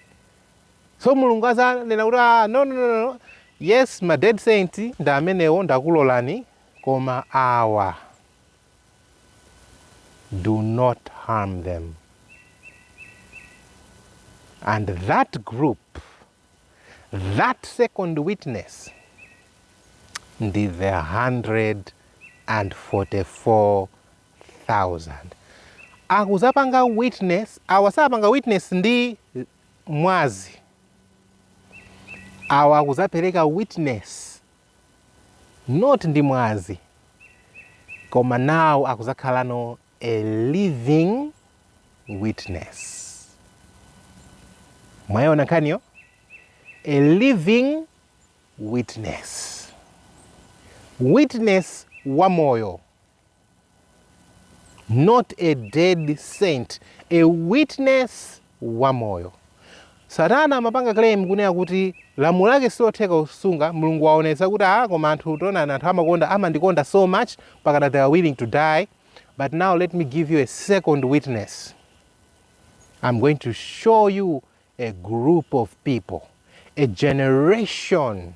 so mulungu azanena kuti a ah, no, no, no, no. yes ma dead saint ndi amenewo ndakulolani koma awa do not harm them and that group that second witness ndi the 144 thousand akuzapanga witness awa sapanga witness ndi mwazi awa akuzapereka witness not ndi mwazi koma nawo akuzakhala no a living witness mwayiona nkhaniyo a living witness witness wa moyo Not a dead saint, a witness wamoyo. Satana amapanga claim kunena kuti lamulo lake silotheka kusunga, Mulungu waonetsa kuti ah koma anthu taonani anthu amakonda amandikonda so much mpakana they are willing to die but now let me give you a second witness. I'm going to show you a group of people, a generation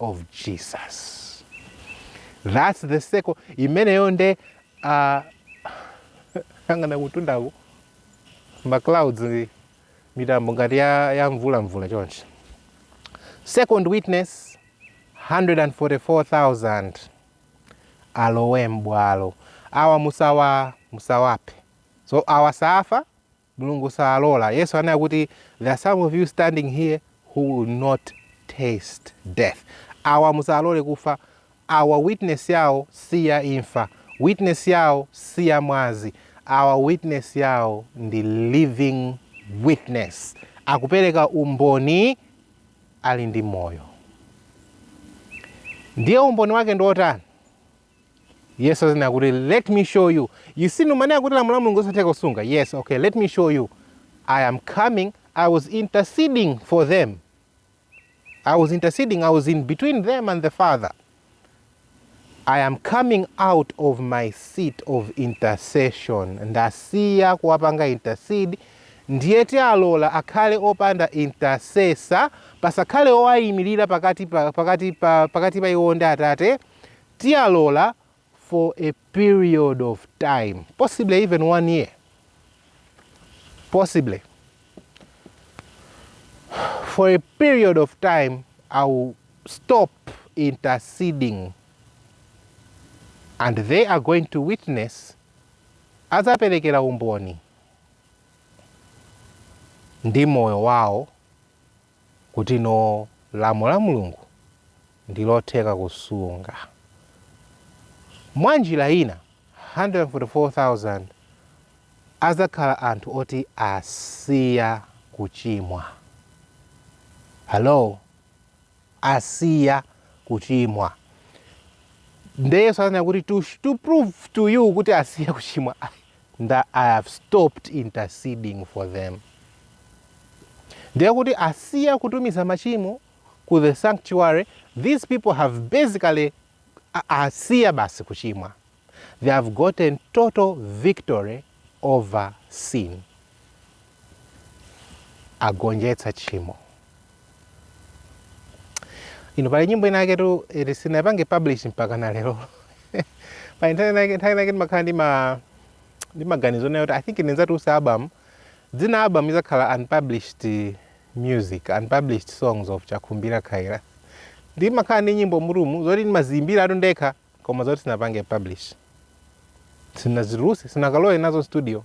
of Jesus. That's the circle. Imeneyo nde uh, angana kutundaku ma clouds mitambo ngati ya, ya mvula mvula chonchi. Second witness 144,000 alowe mbwalo awa musawaphe so awa safa Mulungu salola. Yesu anena kuti there are some of you standing here who will not taste death. Awa musalole kufe. Awa witness yawo si ya imfa. Witness yawo si ya mwazi. Awa witness yawo ndi living witness. Akupereka umboni ali ndi moyo. Ndiye umboni wake ndi otani? Yesu azinena kuti let me show you. You see mumanena kuti lamulo la Mulungu losatheka kusunga. Yes, okay, let me show you. I am coming, I was interceding for them. I was interceding, I was in between them and the Father. I am coming out of my seat of intercession. Ndasiya kuwapanga intercede ndiye kuti alola akhale opanda intercessor pasakhale owayimirira pakati pa pakati pa pakati pa iwo ndi atate tiyalola for a period of time possibly even one year possibly for a period of time i will stop interceding and they are going to witness azaperekera umboni ndi moyo wawo kuti no lamulo la Mulungu ndi lotheka kusunga. Mwanjira ina, 144,000 adzakhala anthu oti asiya kuchimwa. Halo? Asiya kuchimwa. Nde Yesu ananena kuti to to prove to you kuti asiya kuchimwa, nda i have stopped interceding for them ndiye kuti asiya kutumiza machimo ku the sanctuary these people have basically asiya basi kuchimwa they have gotten total victory over sin agonjetsa tchimo ino pali nyimbo ina yaketu yoti sinapange publish mpaka na lero pa internet yake nthawi yake ndimakhala ndi ma ndi maganizo nayo kuti i think ndidzatulutsa album dzina album izakhala unpublished music unpublished songs of chakhumbira khaira ndimakhala ndi nyimbo mulumulu zoti ndimaziyimbiratu ndekha koma zoti sinapange publish sinazitulutse sinakalowe nazo studio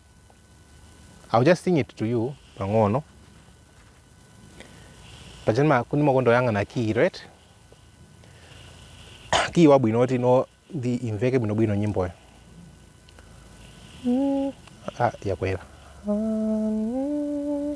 I'll just sing it to you pang'ono pajatu ndimakonda kuyang'ana kiyi right kiyi wabwino oti no ndi imveke bwinobwino nyimboyo mm. ah, yakwera mm.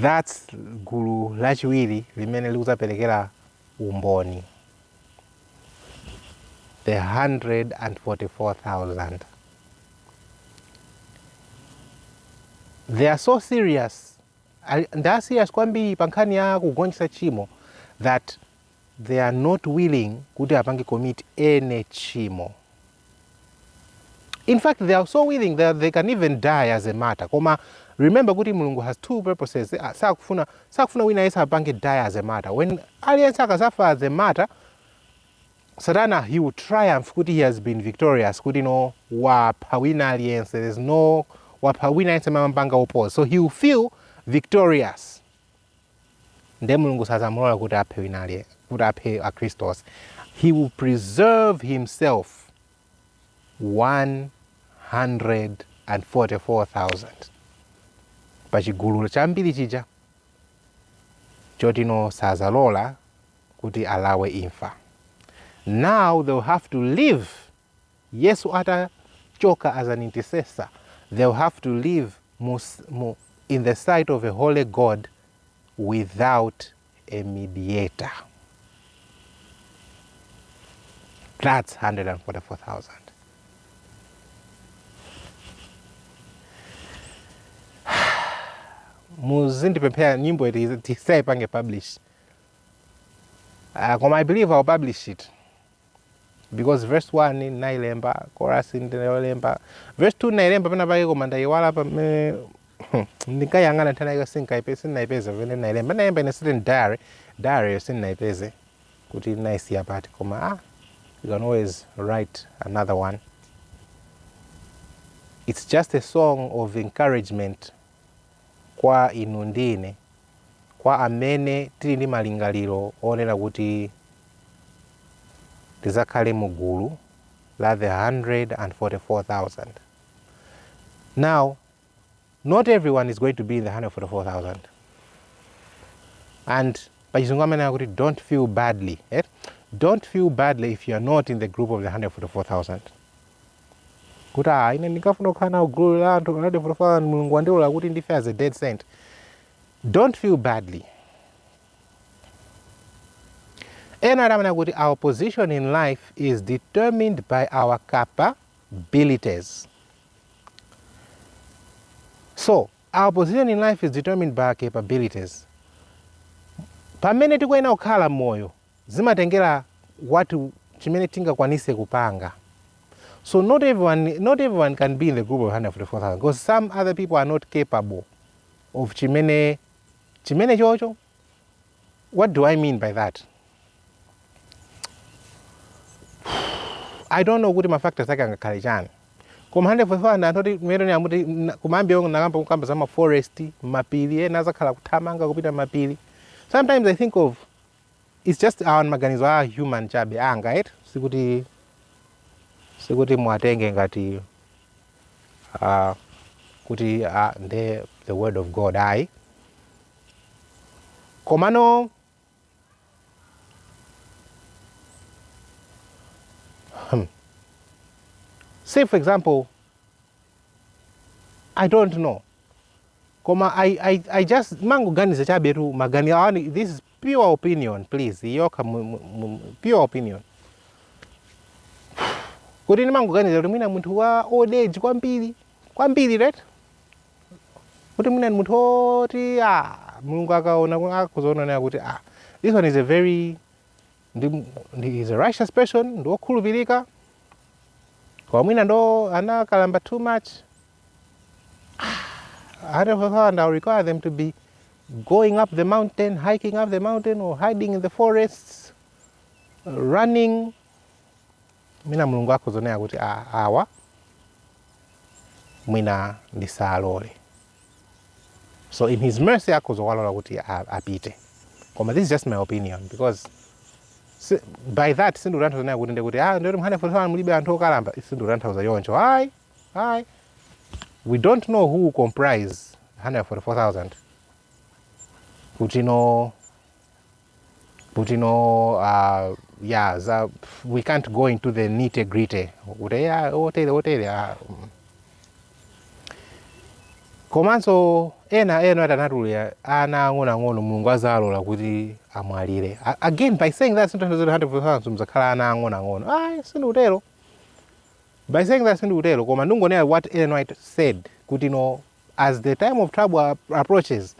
That's gulu lachiwiri limene likudzaperekera umboni the 144,000. They are so serious. They are serious kwambiri pa nkhani ya kugonjetsa tchimo that they are not willing kuti apange commit any tchimo in fact they are so willing that they can even die as a martyr koma remember kuti mulungu has two purposes ah, sakufuna sakufuna wina yese apange die as a martyr when aliyense akazafa as a martyr satana he will triumph kuti he has been victorious kuti no wapha wina aliyense there's no wapha wina aliyense amamupanga oppose so he will feel victorious ndiye mulungu sazamulola kuti aphe wina aliye kuti aphe akhristu onse he will preserve himself 144000 pa chigulu chambiri chija chotino sazalola kuti alawe imfa now they'll have to live Yesu ata choka as an intercessor they will have to live mu mu in the sight of a holy God without a mediator that's 144,000 muzindipemphera nyimbo iti tisaipange publish uh, koma i believe i'll publish it because verse 1 ndinailemba chorus ndinailemba verse 2 ndinailemba pena pake koma ndaiwala pamene ndinkayang'ana nthawi inayo sinkaipeza sindinaipeza pamene ndinailemba ndinalemba in a certain diary diary yo sindinaipeze kuti ndinaisiya pati koma ah you can always write another one it's just a song of encouragement kwa inu ndi ine, kwa amene tili ndi malingaliro onena kuti tidzakhale mu gulu la the 144,000. Now, not everyone is going to be in the 144,000. And pachizungu amanena kuti don't feel badly, eti? Don't feel badly if you are not in the group of the 144,000. kuti ah, ine ndinkafuna kukhala nawo gulu la 144,000 mulungu wandilola kuti ndife as a dead saint don't feel badly ena amanena kuti our position in life is determined by our capabilities so our position in life is determined by our capabilities pamene tikuyenera kukhala moyo Zimatengela what chimene tingakwanise kupanga so not everyone not everyone can be in the group of 144,000 because some other people are not capable of chimene chimene chocho what do I mean by that I don't know kuti mafactors ake angakhale chani koma 144,000 anthu oti mmene ndimati kumayambiriroko ndinakamba kukamba za maforest mapiri ena azakhala akuthamanga kupita m'mapiri sometimes I think of It's just awa ndi maganizo a human chabe anga eti sikuti sikuti muwatenge ngati uh, kuti uh, nde the word of god ayi komano hmm. say for example i don't know Koma I, I, I just mangoganiza chabe tu maganizo anga this is pure opinion please yokha mu- mu- mu- pure opinion kuti ndimangoganiza kuti mwina munthu wa old age kwambiri kwambiri right kuti mwina ni munthu oti ah, mulungu akaona ku- akuzoonanera kuti ah, this one is a very ndi, ndi is a righteous person ndi wokhulupirika koma mwina ndo anakalamba too much Ah, that will require them to be going up the mountain hiking up the mountain or hiding in the forests running mwina mulungu akuzaonera kuti "Ah, awa mwina ndisalole so in his mercy akhoza kuwalola kuti apite koma this is just my opinion because si, by that sindikutanthauza kuti ndikuti ah ndikuti mu 144000 mulibe anthu okalamba sindikutanthauza choncho ayi ayi we don't know who comprise 144000 kuti no kuti no uh, yeah, za, we can't go into the nitty gritty kuti ya kuti otere otere ah, mm. komanso ena ena anatchula ana ang'onoang'ono mulungu azalola kuti amwalire A- again by saying that sindikutanthauza kuti 144000 simuzakhala ana ang'onoang'ono ayi sindikutero by saying that sindikutero koma ndingonena what ellen white said kuti no as the time of trouble ap- approaches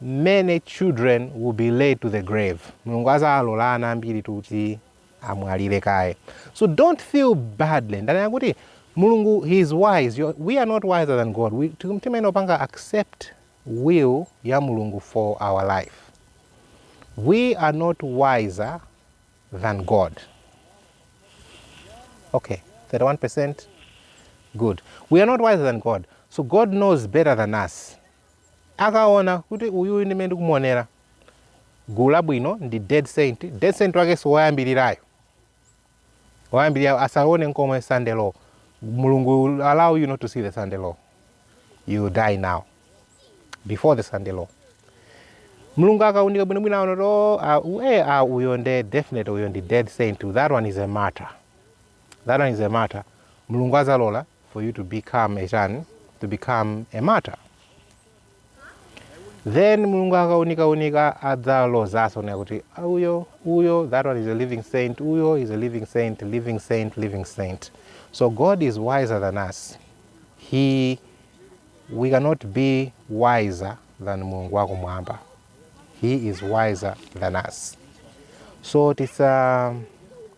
many children will be led to the grave mulungu azalola ana ambiri kuti amwalire kaye so don't feel badly ndanena kuti mulungu he is wise You're- we are not wiser than god We- tim- timayenera kupanga accept will ya mulungu for our life we are not wiser than god okay 31% good we are not wiser than god so god knows better than us Akaona kuti uyuyu ndi mmene ndikumuonera gulu labwino ndi dead saint, dead saint wakenso woyambirirayo woyambirirayo asaone nkomwe Sunday law. Mulungu will allow you not to see the Sunday law, you will die now before the Sunday law. Mulungu akaunika bwino bwino aona kuti oh, ah, u- eh, ah, uyo nde definitely uyo ndi dead saint, that one is a martyr. that one is a matter mulungu azalola for you to become a chan to become a matter then mulungu akaunikaunika adzalozaso na kuti "Ah, uyo uyo that one is a living saint uyo is a living saint living saint living saint so god is wiser than us he we cannot be wiser than mulungu wako mwamba he is wiser than us so tisa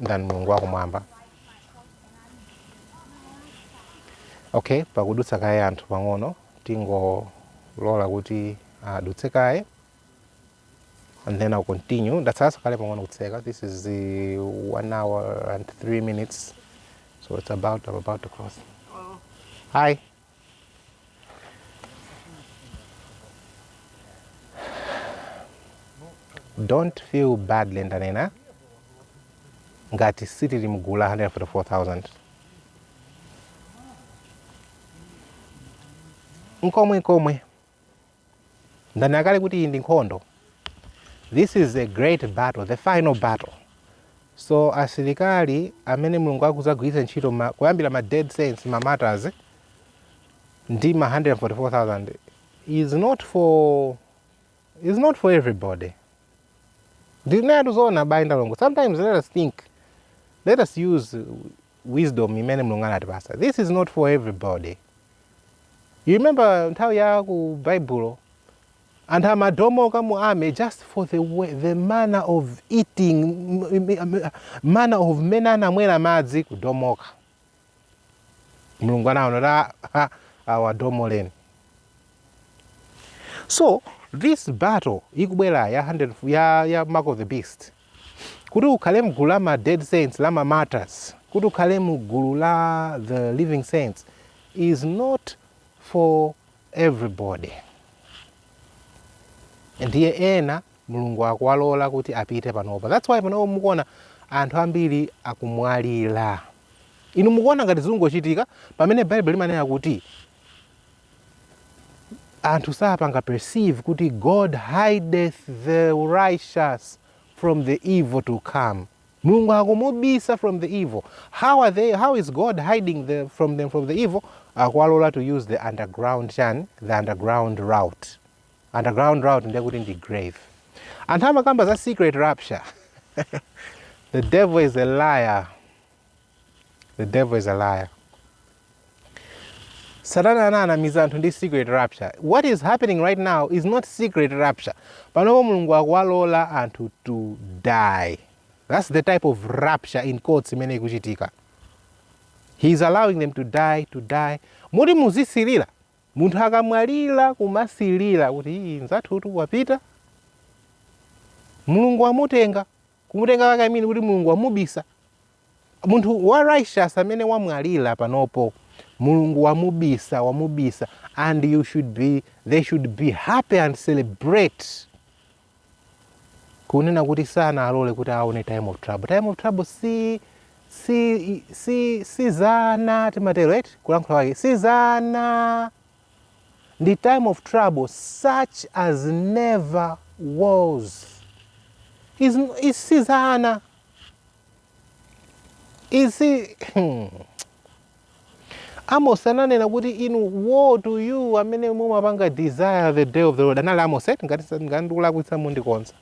ndani mulungu wakumwamba okay pakudutsa kaye anthu pang'ono tingolola kuti adutse kaye and then I'll continue ndatsalaso kale pang'ono kutseka this is one hour and three minutes so it's about I'm about to close hi don't feel badly ndanena ngati sitili mgulu la 144000 nkomwe komwe ndanena kale kuti iyi ndi nkhondo this is a great battle the final battle so asilikali amene mulungu akuzagwiritsa ntchito ma, kuyambira ma dead saints ma martyrs ndi ma 144000 is not for is not for everybody ndinenetu zoona abale ndi alongo sometimes let us think let us use wisdom imene Mulungu anatipasa this is not for everybody you remember nthawi ya ku Baibulo anthu amadomoka mu army just for the, the manner of eating manner of mmene anamwera madzi kudomoka Mulungu anaona kuti awadomoleni so this battle ikubwera ya, ya mark of the beast Kuti ukhale mgulu la ma dead saints, la ma martyrs, kuti ukhale mu gulu la the living saints is not for everybody. Ndiye ena Mulungu akuwalola kuti apite panopa. That's why panopa mukuona anthu ambiri akumwalira. Inu mukuona ngati zikungochitika pamene Baibulo limanena kuti anthu sapanga perceive kuti God hideth the righteous from the evil to come. Mulungu akumubisa from the evil. How are they how is God hiding the, from them from the evil? Akwalola to use the underground chan, the underground route. Underground route ndiye kuti ndi grave. Anthu amakamba za secret rapture. the devil is a liar. the devil is a liar satana ananamiza anthu ndi secret rapture what is happening right now is not secret rapture panopo mulungu akuwalola anthu to die that's the type of rapture in quotes imene ikuchitika he is allowing them to die to die moti muzisilira munthu akamwalira kumasilira kuti iii nzathutu wapita mulungu wamutenga kumutenga wake I mean kuti Mulungu wamubisa munthu wa righteous amene wamwalira panopo Mulungu wamubisa wamubisa and you should be they should be happy and celebrate kunena kuti sanawalole kuti aone time of trouble time of trouble si si si si za ana timatero eti kulankhula kwake si za ana ndi time of trouble such as never was Is- is- si za ana izi amos ananena kuti inu woe to you amene mumapanga desire the day of the lord anali amos eti ngati sa- ngati ndikulakwitsa mundikonze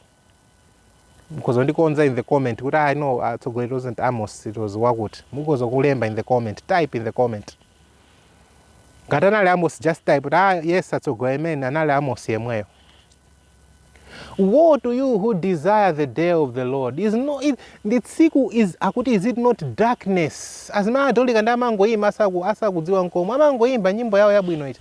mukhoza kundikonza in the comment kuti ah no atsogoleri it wasn't amos it was wakuti mukhoza kulemba in the comment type in the comment ngati anali amos just type kuti ah, yes atsogoleri ameneyo anali amos yemweyo woe to you who desire the day of the lord is no, it, ndi tsiku is akuti is it not darkness anzathu Akatolika ndiye amangoyimba asakudziwa nkomwe amangoyimba nyimbo yawo yabwino iti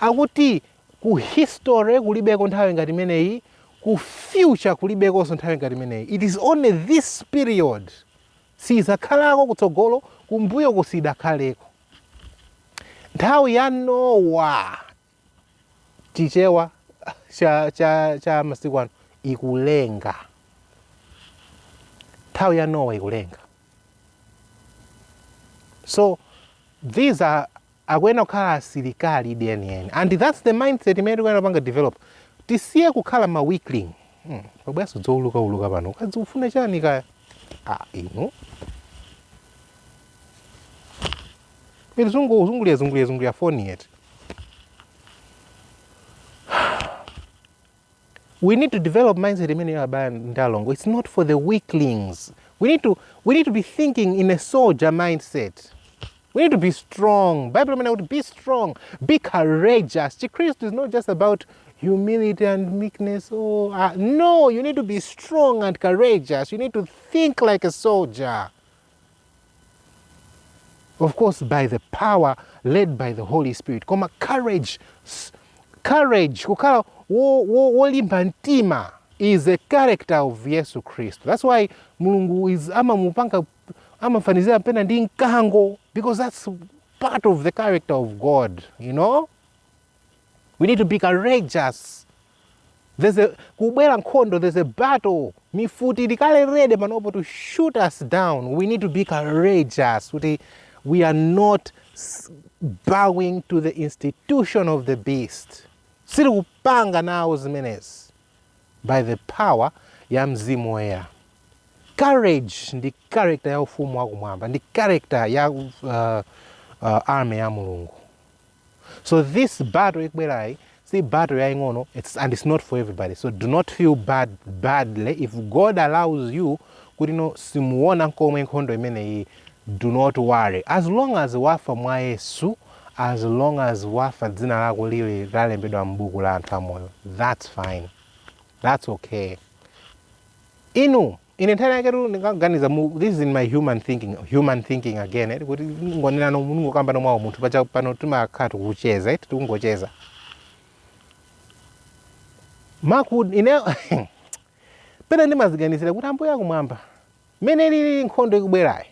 Akuti ku history kulibeko nthawi ngati imeneyi, ku future kulibekonso nthawi ngati imeneyi. It is only this period. Siyidzakhalako kutsogolo, kumbuyoku siyidakhaleko. Nthawi ya Nowa, Chichewa cha cha cha masiku ano, ikulenga. Nthawi ya Nowa ikulenga. So these are Akuyenera kukhala asilikali enieni and that's the mindset imene tikuyenera kupanga develop tisiye kukhala ma weakling hmm. Pabweranso dzouluka uluka pano ukazikufuna chani kaya ah, inu kuzungulira zungulira zungulira foni yeti we need to develop mindset imeneyo abale ndi alongo it's not for the weaklings we need to, we need to be thinking in a soldier mindset we need to be strong bible imene kuti be strong be courageous chikristu is not just about humility and meekness oh, uh, no you need to be strong and courageous you need to think like a soldier of course by the power led by the holy spirit koma courage courage kukhala wolimba wo, wo mtima is a character of yesu khristu that's why Mulungu ife amamupanga amafanizira pena ndi mkango because that's part of the character of god you know we need to be courageous There's kukubwera nkhondo, there's a battle. Mifuti ili kale ready panopo to shoot us down. We need to be courageous kuti we are not bowing to the institution of the beast. Sitikupanga nawo zimenezi by the power ya mzimu woyera. Courage ndi character ya ufumu wakumwamba ndi character ya uh, uh, army ya Mulungu. so this battle ikubwerayi si battle yaing'ono it's, and it's not for everybody so do not feel bad badly if god allows you kuti no simuona nkomwe nkhondo imeneyi do not worry as long as wafa mwa yesu as long as wafa dzina lako lili lalembedwa m'buku la anthu amoyo that's fine that's okay inu Ine nthawi inayake ndinkaganiza mu this is in my human thinking human thinking again eh, kuti kungonena kungokambano mwawo munthu paja pano timakhala tikucheza eti tikungocheza maku ine pena ndimaziganizira kuti ambuye akumwamba mmene ilili nkhondo ikubwerayi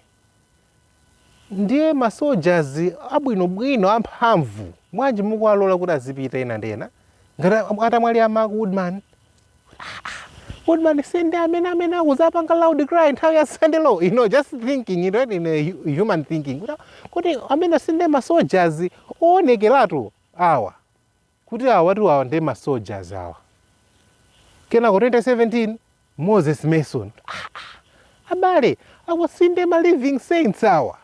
Ndiye ma soldiers abwino bwino amphamvu bwanji mukuwalola kuti azipita enanu ndi ena ngati atamwalira ma Goodman Goodman si ndi amene amene akazapanga loud cry nthawi ya Sunday law you know just thinking it in a human thinking kodi amenewa si ndiye ma soldiers oonekeratu awa kuti awatu awa nde ma soldiers awa. Kenako 2017 Moses Mason. Aaa, abale, awa sinde ma living saints awa.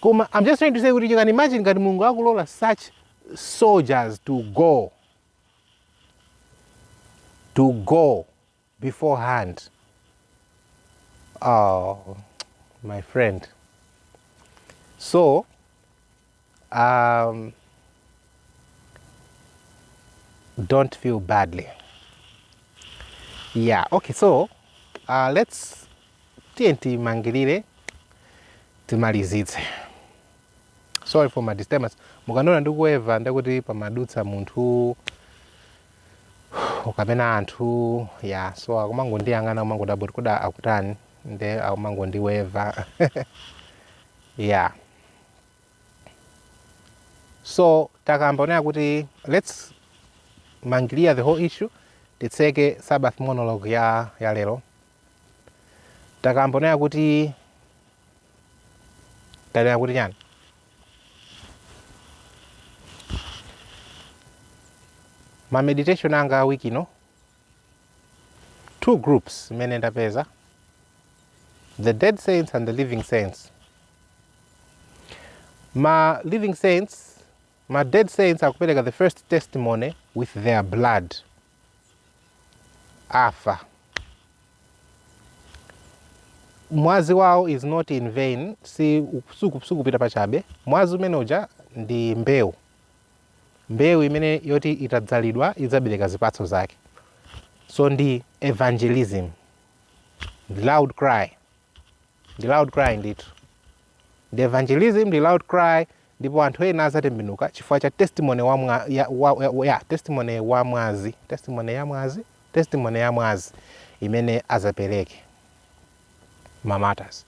Koma I'm just trying to say kuti you can imagine ngati Mulungu akulola such soldiers to go to go beforehand oh my friend so um, don't feel badly yeah okay so uh, let's tiye timangirire timalizitse sorry for my disturbance mukandiona ndikuweva ndekuti pamadutsa munthu kapena anthu ya so akumangondiyang'ana akumangodabwa kuti kodi akutani nde akumangondiweva yeah so takamba zonena kuti let's mangilia the whole issue titseke sabbath monologue ya, ya lero takambonena kuti tanena kuti chani ma meditation anga a wiki ino two groups imene ndapeza the dead saints and the living saints ma living saints ma dead saints akupereka the first testimony with their blood afa. Mwazi wawo is not in vain, sukupita pachabe. Mwazi umene uja ndi mbewu, mbewu imene yoti itadzalidwa idzabereka zipatso zake. So ndi evangelism, loud cry. ndi loud cry ndithu ndi evangelism ndi loud cry ndipo anthu ena azatembenuka chifukwa cha testimony wa mwa, ya, wa, ya, ya, testimony wa mwazi testimony ya mwazi testimony ya mwazi imene azapereke mamatas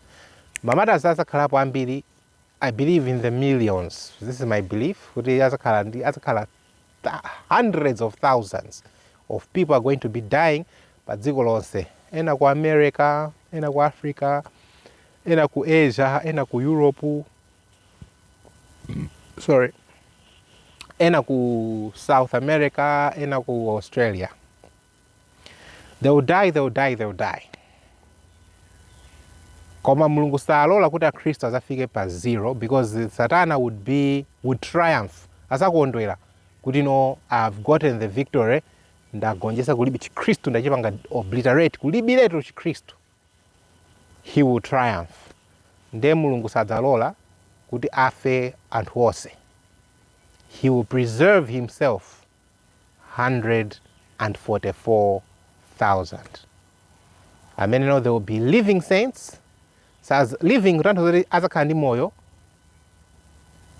mamatas azakhalapo ambiri I believe in the millions, this is my belief, kuti azakhala azakhala hundreds of thousands of people are going to be dying pa dziko lonse, ena ku America, ena ku Africa, ena ku Asia, ena ku Europe, sorry, ena ku South America, ena ku Australia. they will die they will die they will die koma mulungu salola kuti akhristu azafike pa zero because satana would triumph azakondwera kuti no I have gotten the victory ndagonjesa kulibe chikhristu ndachipanga obliterate kulibiretu chikhristu he will triumph nde mulungu sadzalola kuti afe anthu onse he will preserve himself 144,000. Amenewo they will be living saints. Living kutanthauza zoti azakhala ndi moyo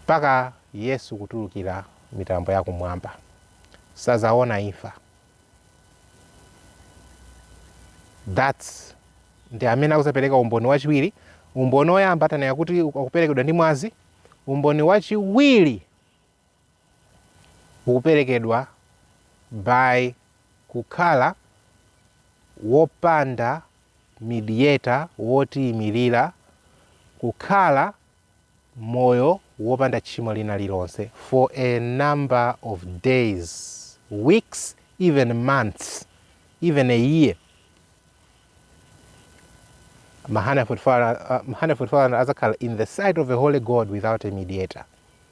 mpaka Yesu kutulukira mitambo ya kumwamba. Sazaona imfa. That's ndi amene akuzapereka umboni wachiwiri. Umboni woyamba tanena kuti akuperekedwa ndi mwazi. Umboni wachiwiri ukuperekedwa by kukhala wopanda mediator wotiyimirira, kukhala moyo wopanda tchimo lina lilonse for a number of days, weeks, even months, even a year. Ma 144 azakhala in the sight of a holy God without a mediator.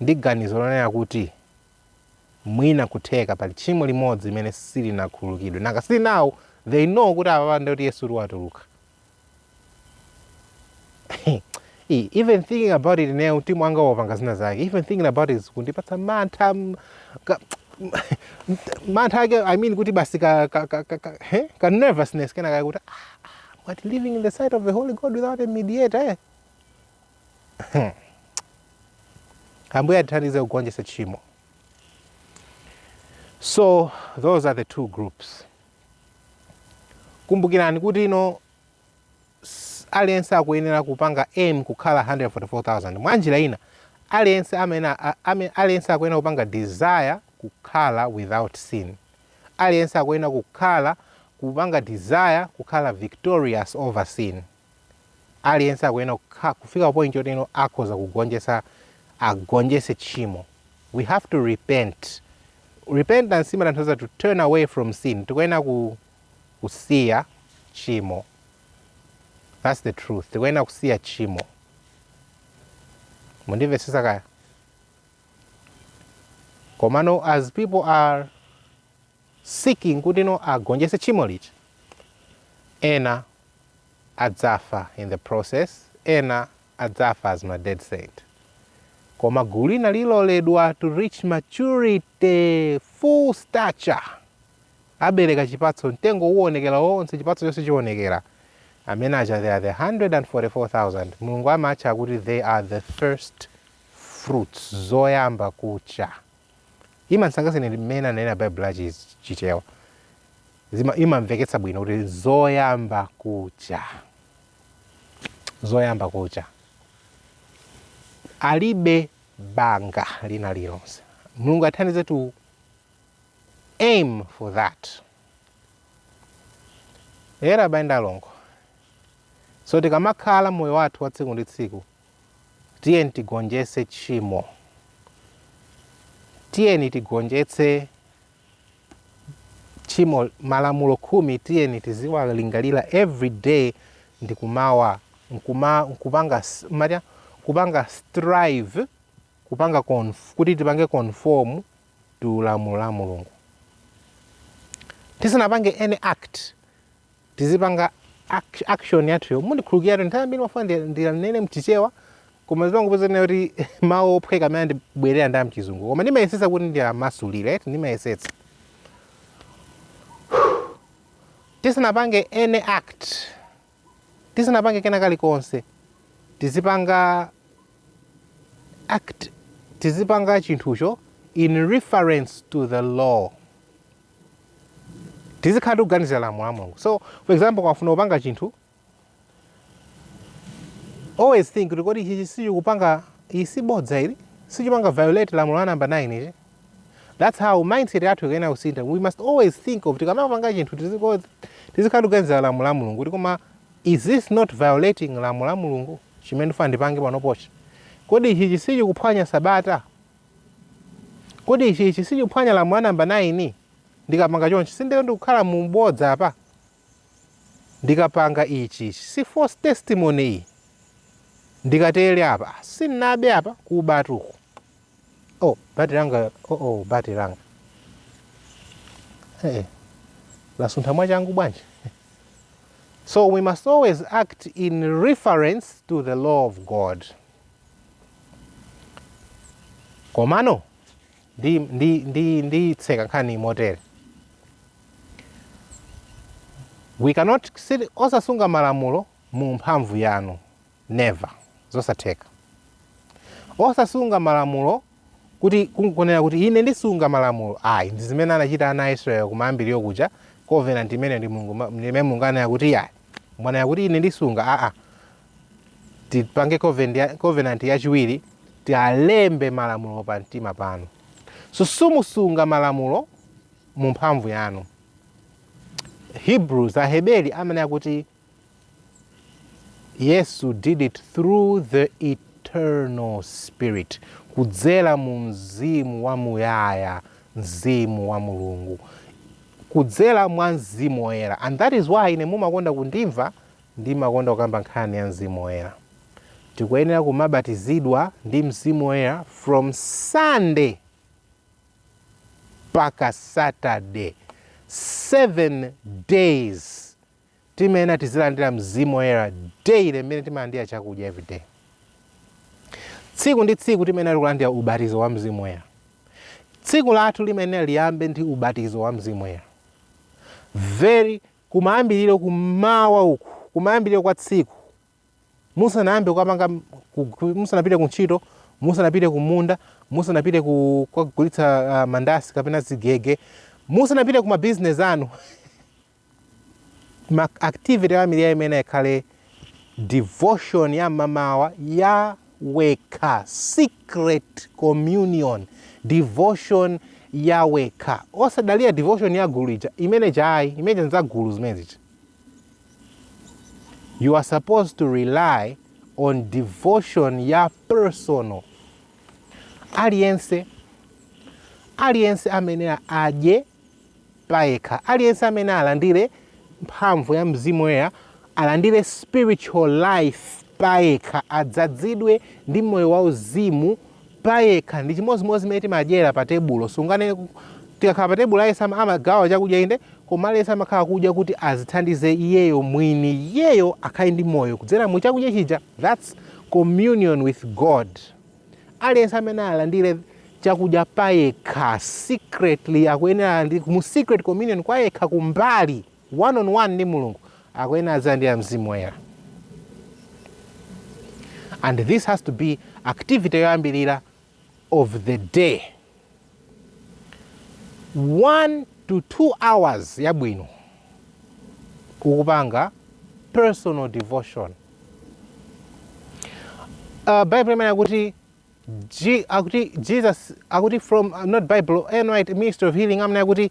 ndi ganizo lonena kuti, Mwina nkutheka pali tchimo limodzi limene silinakhululukidwe. Nanga si now they know kuti apapa nde kuti Yesutu watuluka. E, even thinking about it ineyo mtima wanga wapanga zina zake even thinking about it zikundipatsa mantha m- ka- mantha ake i mean kuti basi ka, ka, ka, ka, ka, he? ka nervousness kenakake kuti ah, ah, what living in the sight of the holy god without a mediator eh? Ambuye atithandize kugonjetsa tchimo. So those are the two groups. Kumbukirani kuti ino aliyense akuyenera kupanga aim kukhala 144,000 mwa njira ina aliyen aliyense akuyenera kupanga desire kukhala without sin aliyense akuyenera kukhala kupanga desire kukhala victorious over sin aliyense akuyenera kufika pa point yoti ino akhoza kugonjetsa agonjetse tchimo we have to repent repentance imatanthauza to turn away from sin tikuyenera ku, kusiya tchimo that's the truth tikuyenera kusiya tchimo mundimvetsetse kaya komano as people are seeking kuti no agonjetse tchimo limeneli. Ena adzafa in the process, ena adzafa as ma dead saint. Koma gulu lina lidzaloledwa to reach maturity, full stature. Abereka chipatso, mtengo uwonekera wonse, chipatso chonse chiwonekera. Amene aja they are the 144,000. Mulungu amatcha kuti they are the first fruits, zoyamba kucha. Imandisangalatsa ine ndi mmene ananena Baibulo la chi Chichewa. Imamveketsa bwino kuti zoyamba kucha. Zoyamba kucha. Alibe banga lina lilonse. Mulungu atithandize to aim for that. Eya abale ndi alongo. So tikamakhala moyo wathu wa tsiku ndi tsiku Tiyeni tigonjetse tchimo. Tiyeni tigonjetse tchimo. Malamulo khumi tiyeni tiziwalingalira every day ndi kumawa nkuma, nkupanga mmatya nkupanga strive kupanga conf, kuti tipange conform to lamulo la Mulungu tisanapange any act tizipanga act- action yathuyo mundikhululukiratu nthawi zambiri ndimafuna ndi- ndilanene mchichewa koma zimangopezeka kuti mawu ophweka amene andibwerera ndi amchizungu koma ndimayesetsa kuti ndiyamasulire eti ndimayesetsa tisanapange any act tisanapange kena kalikonse tizipanga act tizipanga chinthucho in reference to the law tizikhala tikuganizira lamulo la mulungu so for example ukafuna kupanga chinthu always think kuti kodi ichichi sichikupanga iyi si bodza ili sichipanga violate lamulo la namba 9 ichi that's how mindset yathu ikuyenera kusintha we must always think of tikamapanga chinthu tiziko- tizikhala tikuganizira lamulo la mulungu kuti koma is this not violating lamulo la mulungu chimene ndifuna ndipange panopochi kodi ichichi sichikuphwanya sabata Kodi ichi ichi sichikuphwanya lamulo la namba 9? Ndikapanga chonchi sinditero ndikukhala mu bodza apa? Ndikapanga ichi ichi si false testimony iyi? Ndikatere apa ah, sinnabe apa kubatu uku. Oh, battery langa oh oh battery langa. Eh, eh. lasuntha mwachangu bwanji? So we must always act in reference to the law of God. komano ndi, ndi, ndi, nditseka nkhani motere we cannot sit- osasunga malamulo mu mphamvu yanu never zosatheka osasunga malamulo kuti kungonena kuti ine ndisunga malamulo ayi ndi zimene anachita ana a israeli kumayambiriro kuja covenant imene ndi mulungu ma- ndi imene mulungu ananena kuti ayi mwanena kuti ine ndisunga aa tipange covenant yachiwiri tialembe malamulo pa mtima panu simusunga malamulo mu mphamvu yanu hebrews aheberi amanena kuti yesu did it through the eternal spirit kudzera mu mzimu wa muyaya mzimu wa mulungu kudzera mwa mzimu woyera and that is why ine mumakonda kundimva Ndimakonda kukamba nkhani ya Mzimu Woyera. Tikuyenera kumabatizidwa ndi Mzimu Woyera from Sunday mpaka Saturday, 7 days. Timayenera tizilandira Mzimu Woyera daily mmene timalandira chakudya everyday. Tsiku ndi tsiku timayenera kulandira ubatizo wa Mzimu Woyera. Tsiku lathu limayenera liyambe ndi ubatizo wa Mzimu Woyera. Very kumayambiriro kum'mawa uku, kumayambiriro kwa tsiku, musanayambe kukapanga, kugwi- musanapite ku ntchito, musanapite ku munda, musanapite ku kukagulitsa ah, mandasi kapena zigege, musanapite ku mabizinesi anu, ma activity ambiri amene akhale Devotion ya mmamawa ya wekha, secret communion, devotion ya wekha. Osadalira devotion ya gulu ija, imene chayi, imene n'za gulu zimene zija. You are supposed to rely on devotion ya personal. Aliyense, aliyense amene adye payekha. Aliyense amene alandire Mphamvu ya Mzimu Woyera, alandire spiritual life payekha, adzadzidwe ndi Moyo Wauzimu payekha. Ndi chimodzimodzi zimene timadyera pa tebulo. Sunganene kuti, Tikakhala pa tebulo aliyense amagawa chakudya, inde, koma aliyense amakhala akudya kuti adzithandize iyeyo mwini, iyeyo akhale ndi moyo kudzera mu chakudya chija. That's communion with God. aliyense amene alandire chakudya payekha secretly akuyenera mu secret communion kwa yekha kumbali one on one ndi mulungu akuyenera azilandira mzimu woyera and this has to be activity yoyambirira of the day 1 to 2 hours yabwino ukupanga personal devotion uh, bible amene akuti G, akuti jesus akuti from uh, not bible Ellen White ministry of healing amene akuti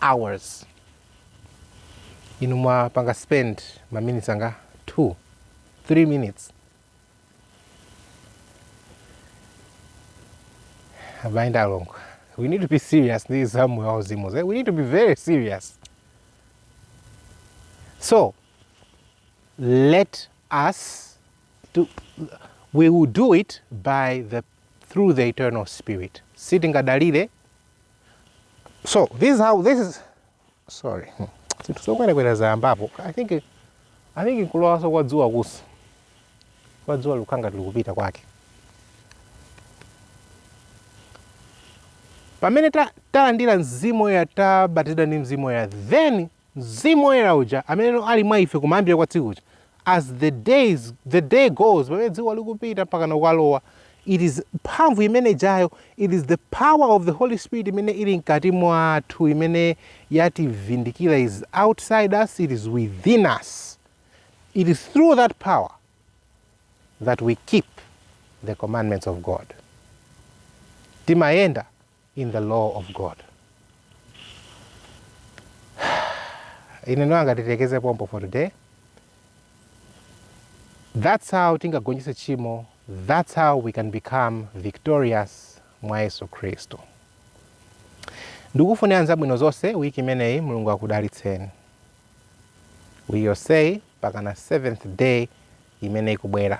hours inu mwapanga spend ma minutes anga 2 3 minutes abayenda alongo we need to be serious ndi za moyo wauzimu ze- we need to be very serious so let us do, we will do it by the through the eternal spirit sitingadalire so this is how this is sorry zinthu zokwerakwera zayambapo i think i think kulowanso kwa dzuwa kusi kwa dzuwa likukhala ngati likupita kwake pamene ta- talandira mzimu woyera tabatizidwa ndi mzimu woyera then Mzimu Woyera uja ameneno ali mwa ife kumayambiriro kwa tsiku kuja, as the days, the day goes, pamene dzuwa likupita mpakana kukalowa, it is, mphamvu imene ijayo, it is the power of the Holy Spirit imene ili mkati mwathu imene yativindikira, is outside us, it is within us. It is through that power that we keep the commandments of God. Timayenda in the law of God. Ine ndinangoti tilekeze pompo for today. That's how tingagonjese chimo. That's how we can become victorious mwa Yesu Kristo. Ndikufunirani zabwino zonse wiki imeneyi Mulungu akudalitseni. wiki yonseyi mpakana seventh day imene ikubwera.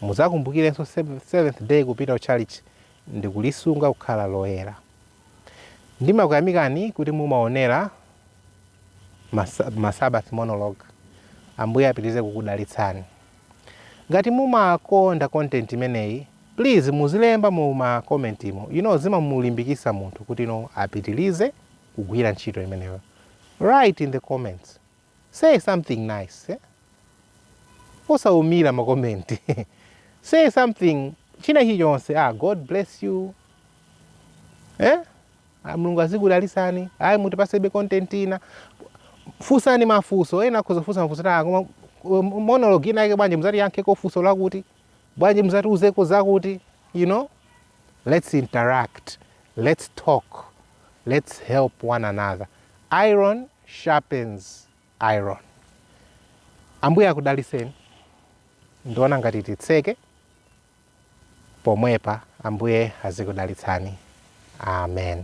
Mudzakumbukirenso Seventh Day kupita ku tchalitchi ndikulisunga kukhala loyera. Ndimakuyamikani kuti mumaonera ma, ma Sabbath monologue. Ambuye apitirize kukudalitsani. Ngati mumakonda content imeneyi, please muzilemba mu ma comment mu. You know zimamulimbikitsa munthu kuti no apitirize kugwira ntchito imeneyo. Write in the comments say something nice eh? osaumira makomenti say something china chilichonse ah, god bless you eh? ah, mulungu azikudalisani ayi mutipasebe content ina funsani mafuso ena akhoza kufusa mafuso, koma um, monologue ina yake bwanji muzatiyankheko funso lakuti bwanji muzatiuzeko zakuti you know let's interact let's talk let's help one another iron sharpens iron. Ambuye akudalitseni. Ndiona ngati titseke pomwepa. Ambuye azikudalitsani. Amen.